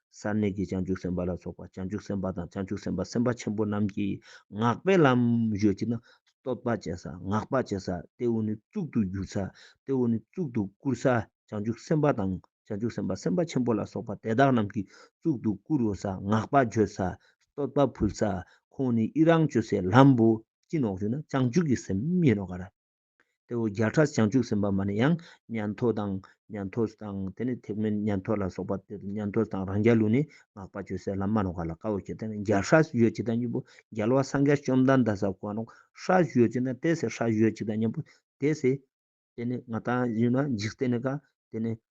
སར་གནས་ཀྱི་བྱང་ཆུབ་སེམས་དཔའ་ལ་སོགས་པ་བྱང་ཆུབ་སེམས་དཔའ་དང་བྱང་ཆུབ་སེམས་དཔའ་སེམས་དཔའ་ཆེན་པོ་རྣམས་ཀྱིས་སྔགས་པའི་ལམ་བརྗོད་ཀྱི་ན། བསྟོད་པ་བྱེད་ས་བསྔགས་པ་བྱེད་ས་སྟེ་འུ་ནི་གཙུག་ཏུ་གྱུར་ས་སྟེ་འུ་ནི་གཙུག་ཏུ་བཀུར་ས་བྱང་ཆུབ་སེམས་དཔའ་དང་བྱང་ཆུབ་སེམས་དཔའ་སེམས་དཔའ་ཆེན་པོ་ལ་སོགས་པ་དེ་དག་རྣམས་ཀྱིས་གཙུག་ཏུ་བཀུར་འོས་ས་བསྔགས་པ་བརྗོད་ས་བསྟོད་པ་ཕུལ་ས་ཁོང་ནི་ཡི་རང་བཅོལ་སའི་ལམ་བོ་ཅི་ནོག་བརྗོད་ན་བྱང་ཆུབ་ཀྱི་སེམས་མི་ནོག་ག་ར། དེ་བོ་བརྒྱ་ཕྲག་བྱང་ཆུབ་སེམས་དཔའ་མ་ནི་ཡང་ཉན་ཐོས་དང། ཉན་ཐོས་སུ་དང་དེ་ནི་ཐེག་དམན་ཉན་ཐོས་ལ་སོགས་པ་དེ་ཉན་ཐོས་སུ་དང་རང་རྒྱལ་ལུགས་ནི་སྔགས་པ་ཆོས་ཟད་ལམ་མ་ནོར་བ་ལ་དཀའ་བོ་ཆེ་དེ་ནི་བརྒྱ་ཕྲག་བཞི་གཅིག་དང་གཉིས་པོ་རྒྱལ་བ་སངས་རྒྱས་བཅོམ་ལྡན་འད་ས་གོ་ནོར་ཕྲག་བཞི་གཅིག་དང་དེ་སྲས་ཕྲག་བཞི་གཅིག་དང་གཉིས་པོ་དེ་སྲས། དེ་ནི་ང་དང་བཞི་ན་འཇིག་རྟེན་ནི་དགའ། དེ་ནི་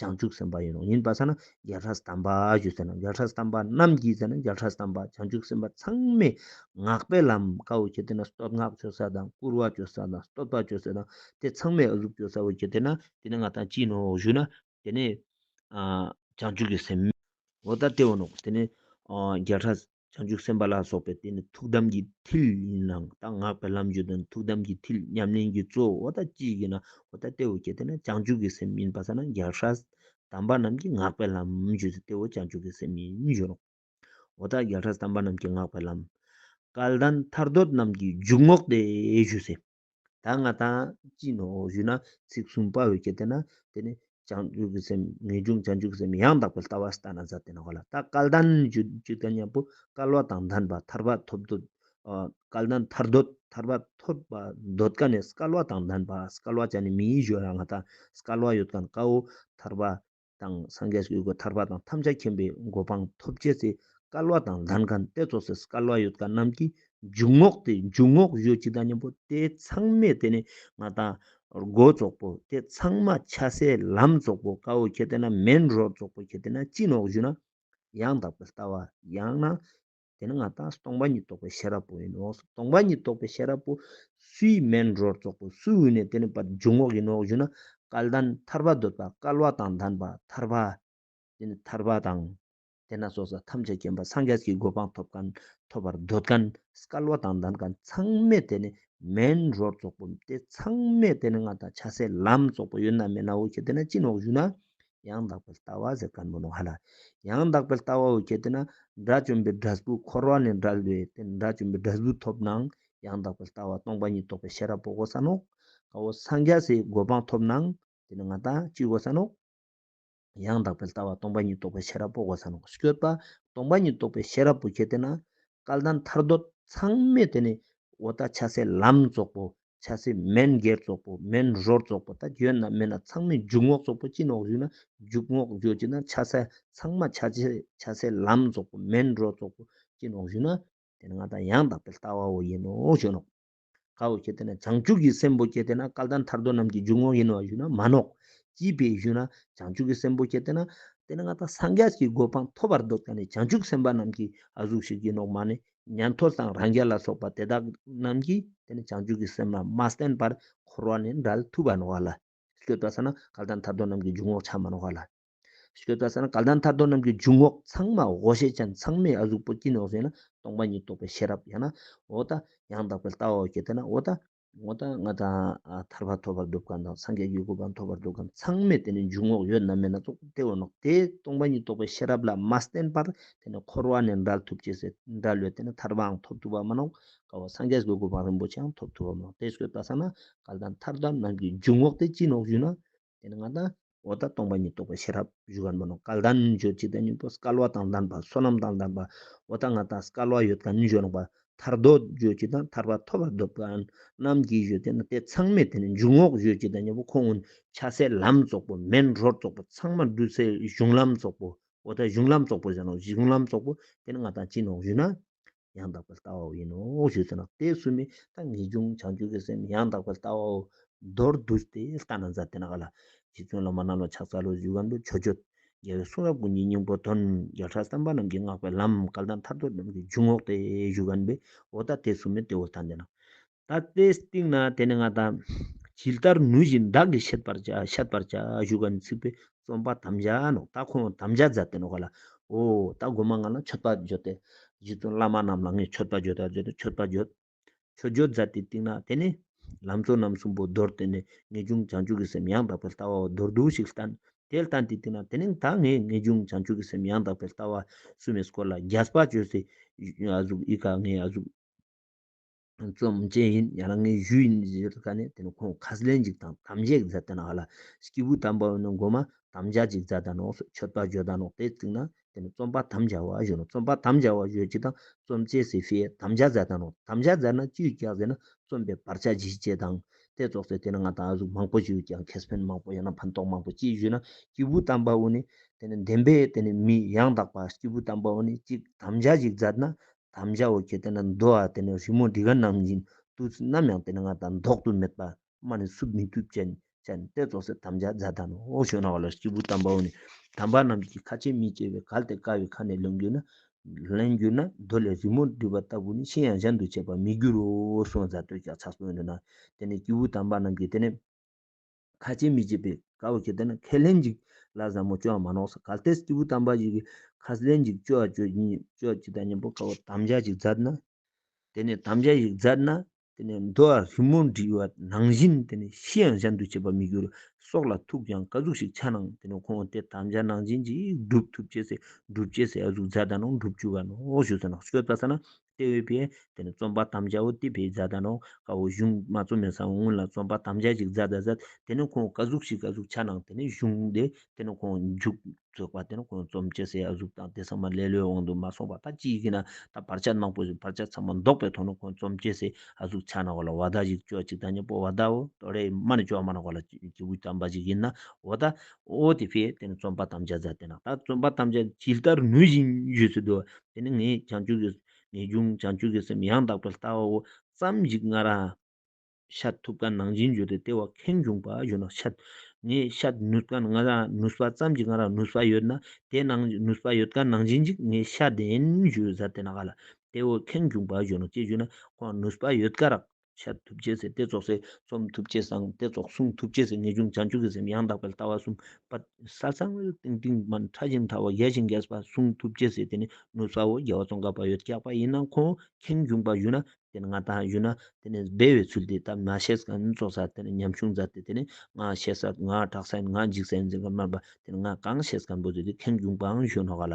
བྱང་ཆུབ་སེམས་དཔའ་ཡིན་ནོ་ཡིན་པ་ས་ན་རྒྱལ་ཁྲག་བསྡམས་པ་ཞུ་ཟེར་ན་རྒྱལ་ཁྲག་བསྡམས་པ་རྣམས་ཀྱིས་ཟེར་ན་རྒྱལ་ཁྲག་བསྡམས་པ་བྱང་ཆུབ་སེམས་དཔའ་ཚང་མས་སྔགས་པའི་ལམ་བཀའ་འོ་བྱེད་དེ་ན་སྟོད་སྔགས་བརྗོད་ས་དང་བསྐུར་བ་བརྗོད་ས་དང་བསྟོད་པ་བརྗོད་ས་དང་དེ་ཚང་མས་ཨུ་ལུགས་བརྗོད་ས་འོ་བྱེད་དེ་ན་དེ་ནི་ང་དང་གཅིག་ནོ་ཞུ་ན་དེ་ནི་བྱང་ཆུབ་ཀྱི་སེམས། འོ་ད་དེ་འོ་ནོ་དེ་ནི་རྒྱལ་ཁྲག་བྱང་ཆུབ་སེམས་དཔའ་ལ་སོགས་པའི་དེ་ནི་ཐུགས་དམ་གྱི་མཐིལ་ཡིན་ལ་ད་སྔགས་པའི་ལམ་བརྒྱུད་དོན་ཐུགས་དམ་གྱི་མཐིལ་ཉམས་ལེན་གྱི་གཙོ་བོ་ད་ཅིའི་གིས་ན་ཨོ་ད་སྟེ་ཨོ་ཀྱེ་དེ་ནི་བྱང་ཆུབ་ཀྱི་སེམས་ཡིན་པ་ས་ན་རྒྱལ་ཧྲཱི། དམ་པ་རྣམས་ཀྱིས་སྔགས་པའི་ལམ་བརྒྱུད་དེ་སྟེ་ཨོ་བྱང་ཆུབ་ཀྱི་སེམས་ཡིན་བརྗོད་ནོ། ཨོ་ད་རྒྱལ་ཧྲཱི་དམ་པ་རྣམས་ཀྱིས་སྔགས་པའི་ལམ། སྐལ་ལྡན་ཐར་འདོད་རྣམས་ཀྱིས་འཇུག་ངོགས་དེ་ཞུས་ཚེ། ད་ང་དང་ཅི་ནོ་ཞུས་ན་ཚིག་གསུམ་དཔའ་བོས་བསྐྱེད་དེ་ན་དེ་ནི་བྱང་ཆུབ་ཀྱི་སེམས་ངེས་འབྱུང་བྱང་ཆུབ་ཀྱི་སེམས་ཡང་དག་པའི་ལྟ་བ་སྟ་ན་བཟའ་དེ་ན་བ་ལ་ད་སྐལ་ལྡན་ཇི་ལྟ་ཉམས་པོ་སྐལ་བ་དང་ལྡན་པ་ཐར་པ་ཐོབ་འདོད་སྐལ་ལྡན་ཐར་འདོད་ཐར་པ་ཐོབ་པ་འདོད་དཀའ་ནས་སྐལ་བ་དང་ལྡན་པ་སྐལ་བ་ཅན་ནི་མི་ཡིས་བཞོ་ཡང་ང་དང་སྐལ་བ་ཡོད་དཀའ་ནི་དཀའ་འོ་ཐར་པ་དང་སངས་རྒྱས་ཀྱི་སྒོ་ཐར་པ་དང་ཐམས་ཅད་མཁྱེན་པའི་སྒོ་འཕང་མཐོ་བྱེད་ཚེ་སྐལ་བ་དང་ལྷ་མཁའ་འདས་གཙོ་སྲས་སྐལ་བ་ཡོད་དགའ་རྣམས་ཀྱིས་འཇུག་ངོགས་ཏེ་འཇུག་ངོགས་གཞོལ་སྤྱི་དང་གཉེན་པོ་དེ་ཚང་མས་དེ་ནས་ང་དང། སྒོ་རྫོགས་པོ་དེ་ཚང་མ་ཆ་སའི་ལམ་རྫོགས་པོ་དཀའ་བོ་ཁྱེད་དེ་ན་མེན་རོ་རྫོགས་པོ་ཁྱེད་དེ་ན་སྤྱི་ནོགས་བཞུགས་ན། ཡང་དག་པའི་ལྟ་བ་ཡང་ན་དེ་ནི་ང་དང་སྟོང་པ་ཉིད་རྟོགས་པའི་ཤེས་རབ་པོ་ཡིན་ནོ། སྟོང་པ་ཉིད་རྟོགས་པའི་ཤེས་རབ་པོ། སུའི་སྨན་རོར་རྫོགས་པའི་སུའི་དབུས་ནས་དེ་ནི་པར་འབྱུང་ངོགས་ཡིན་ནོ་ཞུ་ན། སྐལ་ལྡན་ཐར་པ་འདོད་པ་སྐལ་བ་དང་ལྡན་པ་ཐར་པ། དེ་ནི་ཐར་པ་དང། དེ་ན་སོགས་ས་ཐམས་ཅད་མཁྱེན་པ་སངས་རྒྱས་ཀྱི་གོ་འཕང་ཐོབ་གང་ཐོབ་པར་འདོད་གང་སྐལ་བ་དང་ལྡན་གང་ཚང་མས་དེ་ནི་སྨན་རོར་རྫོགས་པོ་སྟེ་ཚང་མས་དེ་ནི་ང་དང་ཆགས་སའི་ལམ་རྫོགས་པོ་ཡོད་ན་མེད་ན་འོ་ཁྱེད་དེ་ན་ཅི་ནོགས་ཞུ་ན། ཡང་དག་པའི་ལྟ་བ་ཟེར་ག་མི་རུང་ཧ་ལ། ཡང་དག་པའི་ལྟ་བའོ་ཁྱེད་ལྟས་ན་དགྲ་བཅོམ་པའི་དགྲ་གཟུགས་འཁོར་བ་ནས་འགྲལ་བས་དེ་དགྲ་བཅོམ་པའི་དགྲ་གཟུགས་ཐོབ་ནའང་ཡང་དག་པའི་ལྟ་བ་སྟོང་པ་ཉིད་རྟོགས་པའི་ཤེས་རབ་པོ་གོ་ས་ནོག། ཀའོ་སངས་རྒྱ་སའི་གོ་འཕང་ཐོབ་ནའང་དེ་ནི་ང་དང་གཅིག་གོ་ས་ནོག། ཡང་དག་པའི་ལྟ་བ་སྟོང་པ་ཉིད་རྟོགས་པའི་ཤེས་རབ་པོ་གོ་ས་ནོག་སྐྱོད་པ་སྟོང་པ་ཉིད་རྟོགས་པའི་ཤེས་རབ་པོ་ཁྱེད་ལྟས་ན་སྐལ་ལྡན་ཐར་འདོད་ཚང་མས་དེ་ནི་འོ་ད་ཆ་སའི་ལམ་རྫོགས་པོ་ཆ་ཚེ་མན་སྒེར་རྫོགས་པོ་མན་རོར་རྫོགས་པོ་དང་གྱོན་རྣམས་མེད་ན་ཚང་མས་འཇུག་ངོགས་རྫོགས་པོ་སྤྱི་ནོག་བཞུགས་ན་འཇུག་ངོགས་བརྗོད་ཅི་ན་ཆ་ཚ་ཚང་མ་ཆ་ཚེ་ཆ་ཚེ་ལམ་རྫོགས་པོ་མན་རོ་རྫོགས་པོ་སྤྱི་ནོག་བཞུགས་ན་དེ་ནི་ང་དང་ཡང་དག་པའི་ལྟ་བའོ་ཡིན་ནོ་ཞེས་ནོག། གའོ་སྐྱེ་དེ་ནས་བྱང་ཆུབ་ཀྱི་སེམས་པོ་སྐྱེ་དེ་ན་སྐལ་ལྡན་ཐར་འདོད་རྣམས་ཀྱི་འཇུག་ངོགས་ཡིན་ནོ་བ་བཞུགས་ན་མ་ནོག། སྐྱིད་པས་བཞུགས་ན་བྱང་ཆུབ་ཀྱི་སེམས་པོ་སྐྱེ་དེ་ན། དེ་ནི་ང་དང་སངས་རྒྱས་ཀྱི་གོ་འཕང་ཐོབ་པར་འདོད་ད་ནི་བྱང་ཆུབ་སེམས་དཔའ་རྣམས་ཀྱིས་ཨ་གཟུགས་ཤིག་གྱིས་ནོག་མ་ནི་ཉན་ཐོས་དང་རང་རྒྱལ་ལ་སོགས་པ་དེ་དག་རྣམས་ཀྱིས་དེ་ནི་བྱང་ཆུབ་ཀྱི་སེམས་ལ་མ་བརྟེན་པར་འཁོར་བ་ནི་འདྲ་ལ་ཐུབ་པར་འོང་བ་ལ། ཞེས་པའི་ཚེ་ན་ག་ལ་དང་ཐར་འདོད་རྣམས་ཀྱི་འཇུག་ངོགས་ཆ་མར་འོང་བ་ལ། ཞེས་པའི་ཚེ་ན་ག་ལ་དང་ཐར་འདོད་རྣམས་ཀྱི་འཇུག་ངོགས་ཚང་མ་འོ་ཞེས་བྱ་ཚང་མའི་ཨ་གཟུགས་པོ་སྐྱིན་ནོ་ཞེ་ན་སྟོང་པ་ཉིད་རྟོགས་པའི་ཤེས་རབ་ཡང་ན་འོ་ད་ཡང་དག་པའི་ལྟ་བའོ་ཞེས་ཏེ་ན་འོ་ད་ངོ་ད་ང་དང་ཐར་པ་ཐོབ་པར་འདུག་གམ་དང་སངས་རྒྱས་ཀྱི་སྐུ་གང་ཐོབ་པར་འདུག་གམ་ཚང་མས་དེ་ནི་འཇུག་ངོགས་ཡོད་ནམ་མེད་ན་རྟོགས་ཐབས་དེ་འོ་ནོག་དེས་སྟོང་པ་ཉིད་རྟོགས་པའི་ཤེས་རབ་ལ་མ་བརྟེན་པར་དེ་ནི་འཁོར་བ་ནས་འདྲལ་ཐུབ་ཅེས་ཟེར་འདྲ་ལོས་དེ་ནི་ཐར་པའང་ཐོབ་ཐུབ་པ་མ་གནང་དཀའ་བ་སངས་རྒྱས་ཀྱི་སྐུ་གང་རིན་པོ་ཆེའང་ཐོབ་ཐུབ་པ་མ་གནང་དེ་སོས་ལྟ་ས་ན་གལ་ཏེ་ཐར་ཐབས་རྣམས་ཀྱི་འཇུག་ངོགས་དེ་ཅི་ནོག་ཞུས་ན་དེ་ནི་ང་དང། འོག་དང་སྟོང་པ་ཉིད་རྟོགས་པའི་ཤེས་རབ་བཞུགས་པར་མོས་ནོ། སྐལ་ལྡན་རྣལ་འབྱོར་གཅིག་དང་གཉིས་པོ་སྐལ་བ་དང་ལྡན་པ་བསོད་ནམས་དང་ལྡན་པ་འོག་དང་ང་དང་སྐལ་བ་ཡོད་དང་མྱི་ཡོད་ལོངས་པ་ཐར་རྡོ་རྗེ་གཅིག་དང་ཐར་པ་ཐོབ་པར་འདོད་པ་རྣམས་ཀྱིས་བཞུགས་ཏེ་ན་དེ་ཚང་མས་དེ་ནི་འཇུག་ངོགས་གཞོལ་གཅིག་དང་གཉིས་པོ་ཁོང་སྔོན་ཕྱ་སའི་ལམ་རྫོགས་པོ་མེན་རོར་རྫོགས་པོ་ཚང་མ་འདུས་སའི་གཞུང་ལམ་རྫོགས་པོ་འོག་དང་གཞུང་ལམ་རྫོགས་པོ་བཞི་ནོ་གཞུང་ལམ་རྫོགས་པོ་དེ་ནི་ང་དང་གཅིག་ནོ་གཞུག་ན་ཡང་དག་པའི་ལྟ་བའོ་ཡིན་ནོ་ཞེས་ཟེར་ན་དེ་གསུམ་མེད་ད་ངེས་འབྱུང་བྱང་ཆུབ་ཀྱི་སེམས་ཡང་དག་པའི་ལྟ་བའོ། མདོར་བསྡུ་སྟེ་ལྟ་ན་མཛའ་དེ་ན་ག་ལ། རྗེ་བཙུན་བླ་མ་རྣམས་ལ་ཕྱག་འཚལ་ལོ་བཞུགས་གམ་དུ་ཆོས་སྤྱོད། རྒྱལ་བའི་གསུང་རབ་ཀུན་གྱི་སྙིང་པོ་དོན། བརྒྱ་ཕྲག་བསམ་པ་རྣམས་ཀྱིས་བསྔགས་པའི་ལམ། སྐལ་ལྡན་ཐར་ཐོར་རྣམས་ཀྱི་འཇུག་ངོགས་ཏེ་བཞུགས། གནས་པའོ་ད་དེ་གསུམ་མེད་དེ་བས་ཐ་འདས་ན། ད་ལྟའི་སྟེང་ན་དེ་ནི་ང་དང། ཇི་ལྟར་ནུས་བཞིན་བདག་གིས་ཤེད་པར་བྱ་ཤེད་པར་བྱ་བཞུགས་པ་ནི་ཚིག་པའི་རྩོམ་པ་དམ་བཅའ་ནོ། ད་ཁོང་དམ་བཅའ་མཛད་དེ་ནི་གོ་ལ། འོ། ད་སྒོ་མ་ང་ལ་མཆོད་པ་བརྗོད་དེ། རྗེ་བཙུན་བླ་མ་རྣམས་ལ་ངས་མཆོད་པ་བརྗོད་ད་བརྗོད་དེ་མཆོད་པ་བརྗོད། མཆོད་བརྗོད་མཛད་དེའི་སྟེང་ན་དེ་ནི། ལམ་གཙོ་རྣམ་གསུམ་པོ་རྡོར་དེ་ནི་ངེས་འབྱུང་བྱང་ཆུབ་ཀྱི་སེམས་ཡང་དག་པའི་ལྟ་བའོ་རྡོར་བསྡུ་ཞིག་བསྟན། དེ་བསྟན་དེའི་སྟེང་ན་དེ་ནི་ད་ངས་ངེས་འབྱུང་བྱང་ཆུབ་ཀྱི་སེམས་ཡང་དག་པའི་ལྟ་བ་གསུམ་མས་སྐོར་ལ་རྒྱ་སྤ་བཅོས་སེ། གཟུགས་ཨི་ཀ་ངས་གཟུགས། རྩོམ་བཅས་ཡིན་ཡང་རང་ངའི་གཞུ་ཡིན་ཞེས་བརྗོད་དཀའ་ནས་དེ་ནི་ཁོང་ཁ་ཟླའི་འཇིག་དང་དམ་བཅའི་མཛད་དོན་ཨ་ལ་སྐྱིད་པོའི་དམ་པ་འོ་ན་མགོ་མ་དམ་བཅའ་ཅིག་མཛད་དང་ནོགས་སོ་ཆོས་དཔའ་བརྗོད་དང་ནོགས་དེ་བརྩིགས་ན་དེ་ནི་རྩོམ་པ་དམ་བཅའ་བ་བརྗོད་ནོགས་རྩོམ་པ་དམ་བཅའ་བ་བརྗོད་ཅིག་དང་རྩོམ་བཅས་སི་ཧྥི་ཡའི་དམ་བཅའ་མཛད་དང་ནོགས་དམ་བཅའ་མཛད་ན་བཅུའི་བཀྱག་ཟེར་ན་རྩོམ་པའི་བར་ཆ་བཞི་ཅེས་དང། དེ་རྫོགས་ཚེ་དེ་ནི་ང་དང་ཨ་གཟུགས་མང་པོ་ཅིག་ཀྱང་ཁེས་ཕན་མང་པོ་ཡང་ན་ཕན་ཐོགས་མང་པོ་ཅིག་བཞུགས་ན་སྐྱིད་པོའི་དམ་པ་འོ་ནི་དེ་ནི་བདེན་པས་དེ་ནི་མི་ཡང་དག་པ་སྐྱིད་པོའི་དམ་པ་འོ་ནི་གཅིག་དམ་བཅའ་ཅིག་མཛད་ན་དམ་བཅའ་བོ་ཁྱེད་དེ་ན་འདུག་ཨ་དེ་ནས་རི་མོ་འདི་ག་ནང་བཞིན་ཏུ་ཚུ་ནམ་ཡང་དེ་ན་ང་དང་འདོགས་དུ་མེད་པདྨ་ནི་བསུབ་མི་ཐུབ་ཅན་ཅན་ཏེ་རྫོགས་སེ་དམ་བཅའ་རྫ་དམ་འོག་ཞོན་ནའོ་ལ་སྐྱེས་བུ་དམ་པའོ་ནི་དམ་པ་རྣམས་ཀྱི་ཁ་ཆེ་མི་སྐྱེ་བའི་གལ་ཏེ་དཀའ་བའི་ཁ་ནས་ལོན་གྱུར་ན། ལེན་གྱུར་ན་རྡོ་ལས་རི་མོ་འདྲུད་པ་ལྟ་བུ་ནི་ཤིང་ཡང་གཞན་དུ་བྱེད་པར་མི་འགྱུར་རོ་གསུངས་རྫ་སྟོད་ཀྱག་ཕྱག་སོན་དུ་ན་དེ་ནས་སྐྱེས་བུ་དམ་པ་རྣམས་ཀྱིས་དེ་ནས། ཁ་སྐྱེལ་མི་བྱེད་པའི་བཀའ་བབས་ཀྱི་དེ་ནི་ཁས་ལེན་འཇིག་ལ་བཟང་མོ་སྐྱོ་བ་མ་ནོག་ས་གལ་ཏེ་སྐྱེས་བུ་དམ་པ་ཞིག་གིས་ཁས་ལེན་འཇིག་སྐྱོ་བ་སྐྱོ་བཞིན་ཡོད་སྐྱོ་ཅི་ད་མཉམ་པོ་དཀའ་བ་དམ་བཅའ་ཞིག་མཛད་ན། དེ་ནི་དམ་བཅའ་ཞིག་མཛད་ན་དེ་ནི་འདུལ་བ་རི་མོ་འབྲི་བ་ནང་བཞིན་དེ་ནི་ཤི་ཡང་གཞན་དུ་བྱེད་པར་མི་འགྱུར་སྲོག་ལ་ཐུག་ཀྱང་བཀའ་གཟུགས་ཤིག་ཆ་ནང་དེ་ནི་ཁོང་དེ་དམ་བཅའ་ནང་བཞིན་ཅིག་སྒྲུབ་ཐུབ་ཅེས་སའི་སྒྲུབ་བྱེད་སའི་གཟུགས་མཛད་ད་ནང་སྒྲུབ་བྱུས་བ་ནོག་ཞུ་ས་ནག་སྐྱོ་ལྟ་ས་ན་ཏེ་འོས་པས་དེ་ནི་རྩོམ་པ་དམ་བཅའ་བོ་ཏི་བའི་མཛའ་ད་ནོ། ཀ་བོ་གཞུང་མ་རྩོམ་མེད་སང་སྔོན་ལ་རྩོམ་པ་དམ་བཅའ་ཅིག་མཛའ་ད་ཟད་དེ་ནི་ཁོང་ཀ་གཟུགས་ཤིག་ཀ་གཟུགས་ཆ་ནང་དེ་ནི་གཞུང་དེ་དེ་ནི་ཁོང་མཇུག་རྫོགས་པ་དེ་ནི་ཁོང་རྩོམ་སྤྱི་སའི་གཟུགས་དང་དེ་ཚང་མ་ལེ་ལོའི་དབང་དུ་མ་སོང་བ་ད་ཅི་ཡི་གེ་ན་ད་བར་ཆ་ནང་པོ་བཞིན་བར་ཆ་ཚང་མ་འདོགས་པའི་ཐོག་ནས་ཁོང་རྩོམ་སྤྱི་སའི་གཟུགས་ཆ་ནང་བ་ལ་བ་ད་ཅིག་ཅོ་ཅིག་ད་ཉེ་པོ་བ་ད་བོ་ཏོ་རེད་མ་ནི་ཅོ་མ་ནང་བ་ལ་ཅི་བུ་ཅམ་པ་ཅིག་ཡིན་ན་བོ་ད་ཨོ་དེ་ཕས་དེ་ནི་རྩོམ་པ་ཐམས་ཅད་བཟའ་དེ་ན་ད་རྩོམ་པ་ཐམས་ཅད་ཇི་ལྟར་ནུས་བཞིན་བརྗོད་སྲིད་དོ། དེ་ནི་ངས་བྱང་ཆུབ་ཀྱི། ངེས་འབྱུང་བྱང་ཆུབ་ཀྱི་སེམས་ཡང་དག་པའི་ལྟ་བའོ། བསམ་གཞིག་སྔ་ར། ཤཱད་ཐུབ་ཀ་ནང་བཞིན་བརྗོད་དེ་ལྟེ་བ་ཁེངས་བྱུང་པར་བརྗོད་ན་ཤཱད། ངས་ཤཱད་ནུས་ཀ་སྔ་ར་ནུས་པ་བསམ་གཞིག་སྔ་ར་ནུས་པ་ཡོད་ན་དེ་ནང་ནུས་པ་ཡོད་ཀ་ནང་བཞིན་གྱི་ངས་ཤཱད་ལྡན་བརྗོད་བཟའ་དེ་ན་ག་ལ། ལྟེ་བ་ཁེངས་བྱུང་པར་བརྗོད་ནོ་ཅེས་བརྗོད་ན་ཁོང་ནུས་པ་ཡོད་ཀ་རག་འཆར་ཐུབ་རྗེས་སེ་སྟེ་རྫོགས་སེ། རྩོམ་ཐུབ་རྗེས་བཟང་སྟེ་རྫོགས། གསུང་ཐུབ་རྗེས་སེ་ངེས་འབྱུང་བྱང་ཆུབ་ཀྱི་སེམས་ཡང་དག་པའི་ལྟ་བ་གསུམ། པ། ས་གཙང་བའི་སྟེང་སྟེང་མ་ཕྲ་ཞིང་མཐའ་བ་ཡལ་ཞིང་འགས་པ། གསུང་ཐུབ་རྗེས་སེ་དེ་ནི་ནུབ་ས་འོག་རྒྱལ་བ་ཙོང་ཁ་བ་ཡོད་སྐྱག་པ་ཡིན་ན་ཁོང་ཁེངས་སྐྱུངས་པ་ཡོད་ན་དེ་ནི་ང་དང་ཡོད་ན་དེ་ནི་སྦས་བའི་ཚུལ་དེ་ལྟར་མ་བཤད་ཀྱང་རྫོགས་ས་དེ་ནི་ཉམ་ཆུང་མཛའ་དེ་དེ་ནི་ང་བཤད་ས་ང་གྲགས་ས་ཡིན་ང་འཇིགས་ས་ཡིན་ཟེར་མཁན་མ་འབའ་དེ་ནི་ང་གང་བཤད་ཀྱང་འབོད་ཚུལ་དེ་ཁེངས་སྐྱུངས་པའང་གཞོན་ནུ་ཁ་ལ་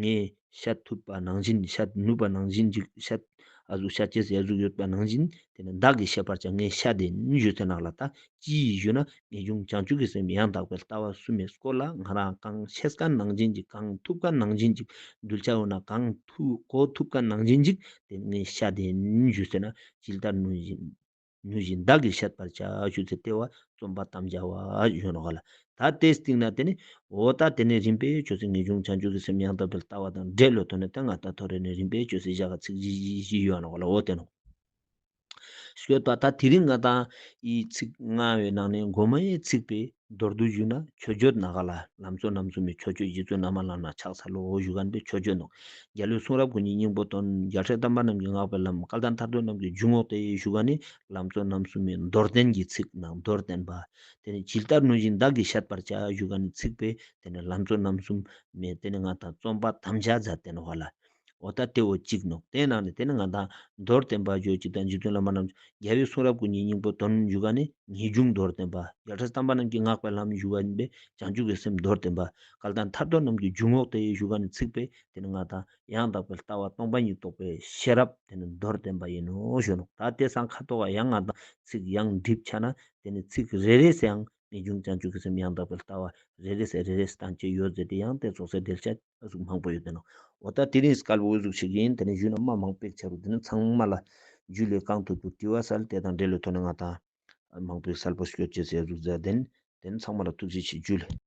ངས་བཤད་ཐུབ་པ་ནང་བཞིན་བཤད་ནུས་པ་ནང་བཞིན་གཅིག་བཤད་ཨ་གཟུགས་བཤད་ཅེས་ཟེར་གཟུགས་ཡོད་པ་ནང་བཞིན་དེ་ནི་བདག་གིས་བཤད་པར་བྱ་ངས་བཤད་དེ་ནི་གཞོན་ཚེ་ནགས་ལ་ལྟ་ཅི་ཡིས་གཞོན་ན་ངེས་འབྱུང་བྱང་ཆུབ་ཀྱི་སེམས་ཡང་དག་པའི་ལྟ་བ་སུ་མེད་སྐོར་ལ་ང་རང་གང་བཤད་ཀ་ནང་བཞིན་གཅིག་གང་ཐུབ་ཀ་ནང་བཞིན་གཅིག་གདུལ་བྱ་འོ་ན་གང་གོ་ཐུབ་ཀ་ནང་བཞིན་གཅིག་དེ་ནི་ངས་བཤད་དེ་ནི་གཞོན་ཚེ་ནགས་ཇི་ལྟར་ནུས་བཞིན། ཉོན་བཞིན་བདག་གིས་བཤད་པར་བྱ་ཞུ་ཚེ་ལྟེ་བ་རྩོམ་པ་དམ་བཅའ་བ་གཞོན་རོ་ག་ལ་ད་ལྟའི་སྟེང་ན་དེ་ནི་འོ་ད་དེ་ནས་རིམ་པས་ཆོས་སྲིད་ངེས་འབྱུང་བྱང་ཆུབ་ཀྱི་སེམས་ཡང་དག་པའི་ལྟ་བ་དང་འབྲེལ་ལོ་ཐོ་ནས་སྟེ་ང་ད་ཐོ་རེ་ནས་རིམ་པས་ཆོས་སྲིད་བཞག་ག་ཚིག་བཞི་བཞི་བཞི་གཞོན་རོ་ག་ལ་འོ་དེ་ནོ། ཞོལ་པ་ད་དེ་རིང་ང་དང་ཡིས་ཚིག་ལྔ་བའི་ནང་ནས་མགོ་མ་ཡའི་ཚིག་པའི། མདོར་བསྡུ་ཞུས་ན་ཆོས་སྤྱོད་ནཱ་ག་ལ་ལམ་གཙོ་རྣམ་གསུམ་པའི་ཆོས་སྤྱོད་རྗེ་བཙུན་རྣམ་མང་ལམ་ལ་ཕྱག་འཚལ་ལོ་ཞུ་ག་ནི་པའི་ཆོས་སྤྱོད་ནོ། རྒྱལ་བློའི་གསུང་རབ་ཀུན་གྱི་སྙིང་པོ་དོན་རྒྱ་ཕྲད་དམ་པ་རྣམས་ཀྱི་བསྔགས་པའི་ལམ་སྐལ་ལྡན་ཐར་འདོད་རྣམས་ཀྱི་འཇུག་ངོགས་ཏེ་ཞུ་ག་ནི་ལམ་གཙོ་རྣམ་གསུམ་པའི་མདོར་བསྟན་གྱི་ཚིག་ནང་མདོར་བསྟན་པ། དེ་ནི་ཇི་ལྟར་ནོས་བཞིན་བདག་གིས་བཤད་པར་བྱ་ཞུ་ག་ནི་ཚིག་དཔེ་དེ་ནི་ལམ་གཙོ་རྣམ་གསུམ་མའི་དེ་ནི་སྔགས་དང་རྩོམ་པ་དམ་བཅའ་མཛད་བསྟན་བ་ལ། འོ་ད་སྟེ་འོ་གཅིག་ནོ། དེ་ནང་ནས་དེ་ནི་ང་དང། མདོར་བསྟན་པ་རྗོད་བྱེད་དང་འཇིག་རྟེན་བླ་མ་རྣམས། རྒྱལ་བའི་གསུང་རབ་སྐུ་ཉིད་སྙིང་པོ་དོན་འཇུག་ག་ནི། ངེས་འབྱུང་མདོར་བསྟན་པ། ཡ་བྲལ་གསང་བ་རྣམས་ཀྱི་བསྔགས་པའི་ལམ་བཞུགས་པ་ཡིན་པས་བྱང་ཆུབ་ཀྱི་སེམས་མདོར་བསྟན་པ། བསྐལ་དང་ཐར་ཐོར་རྣམས་ཀྱི་འཇུག་ངོགས་དེ་ཡི་བཞུགས་ག་ནི་ཚིག་པས་དེ་ནི་ང་དང། ཡང་དག་པའི་ལྟ་བ་སྟོང་པ་ཉིད་རྟོགས་པའི་ཤེས་རབ་དེ་ནི་མདོར་བསྟན་པ་ཡིན་ནོ་ཞུ་ནོ། ད་ལྟའི་ཟངས་ཁ་དོག་ག་ཡང་ང་དང། ཚིག་ཡང་སྒྲིབ་ཆགས་ན་དེ་ནི་ཚིག་རེ་རེས་ཡང་ངེས་འབྱུང་བྱང་ཆུབ་ཀྱི་སེམས་ཡང་དག་པའི་ལྟ་བ་རེ་རེས་རེ་རེས་དང་བཅས་ཡོད་ཟེར་ཏེ་ཡང་དེ་རྫོགས་སའི་གདེལ་ཆ་གཟུགས་མང་པོ་ཡོད་དེ་ན་འོ་ད་དེ་རིང་དཀར་པོའི་གཟུགས་ཤིག་ཡིན་དེ་ནས་གཞུག་ན་དམའ་མང་པོའི་ཆ་རུ་དེ་ནས་ཚང་མ་ལ་རྒྱུད་ལས་གང་ཐུབ་ཐུབ་དྲི་བ་སལ་དེ་དང་འབྲེལ་ལོ་ཐོ་ན་ང་དང། མང་པོའི་སལ་པོ་ཤོད་ཅེས་ཟེར་གཟུགས་ཟེར་དེ་ནས་དེ་ནས་ཚང་མ་ལ་ཐུགས་རྗེ་ཆེ་རྒྱུད་ལས།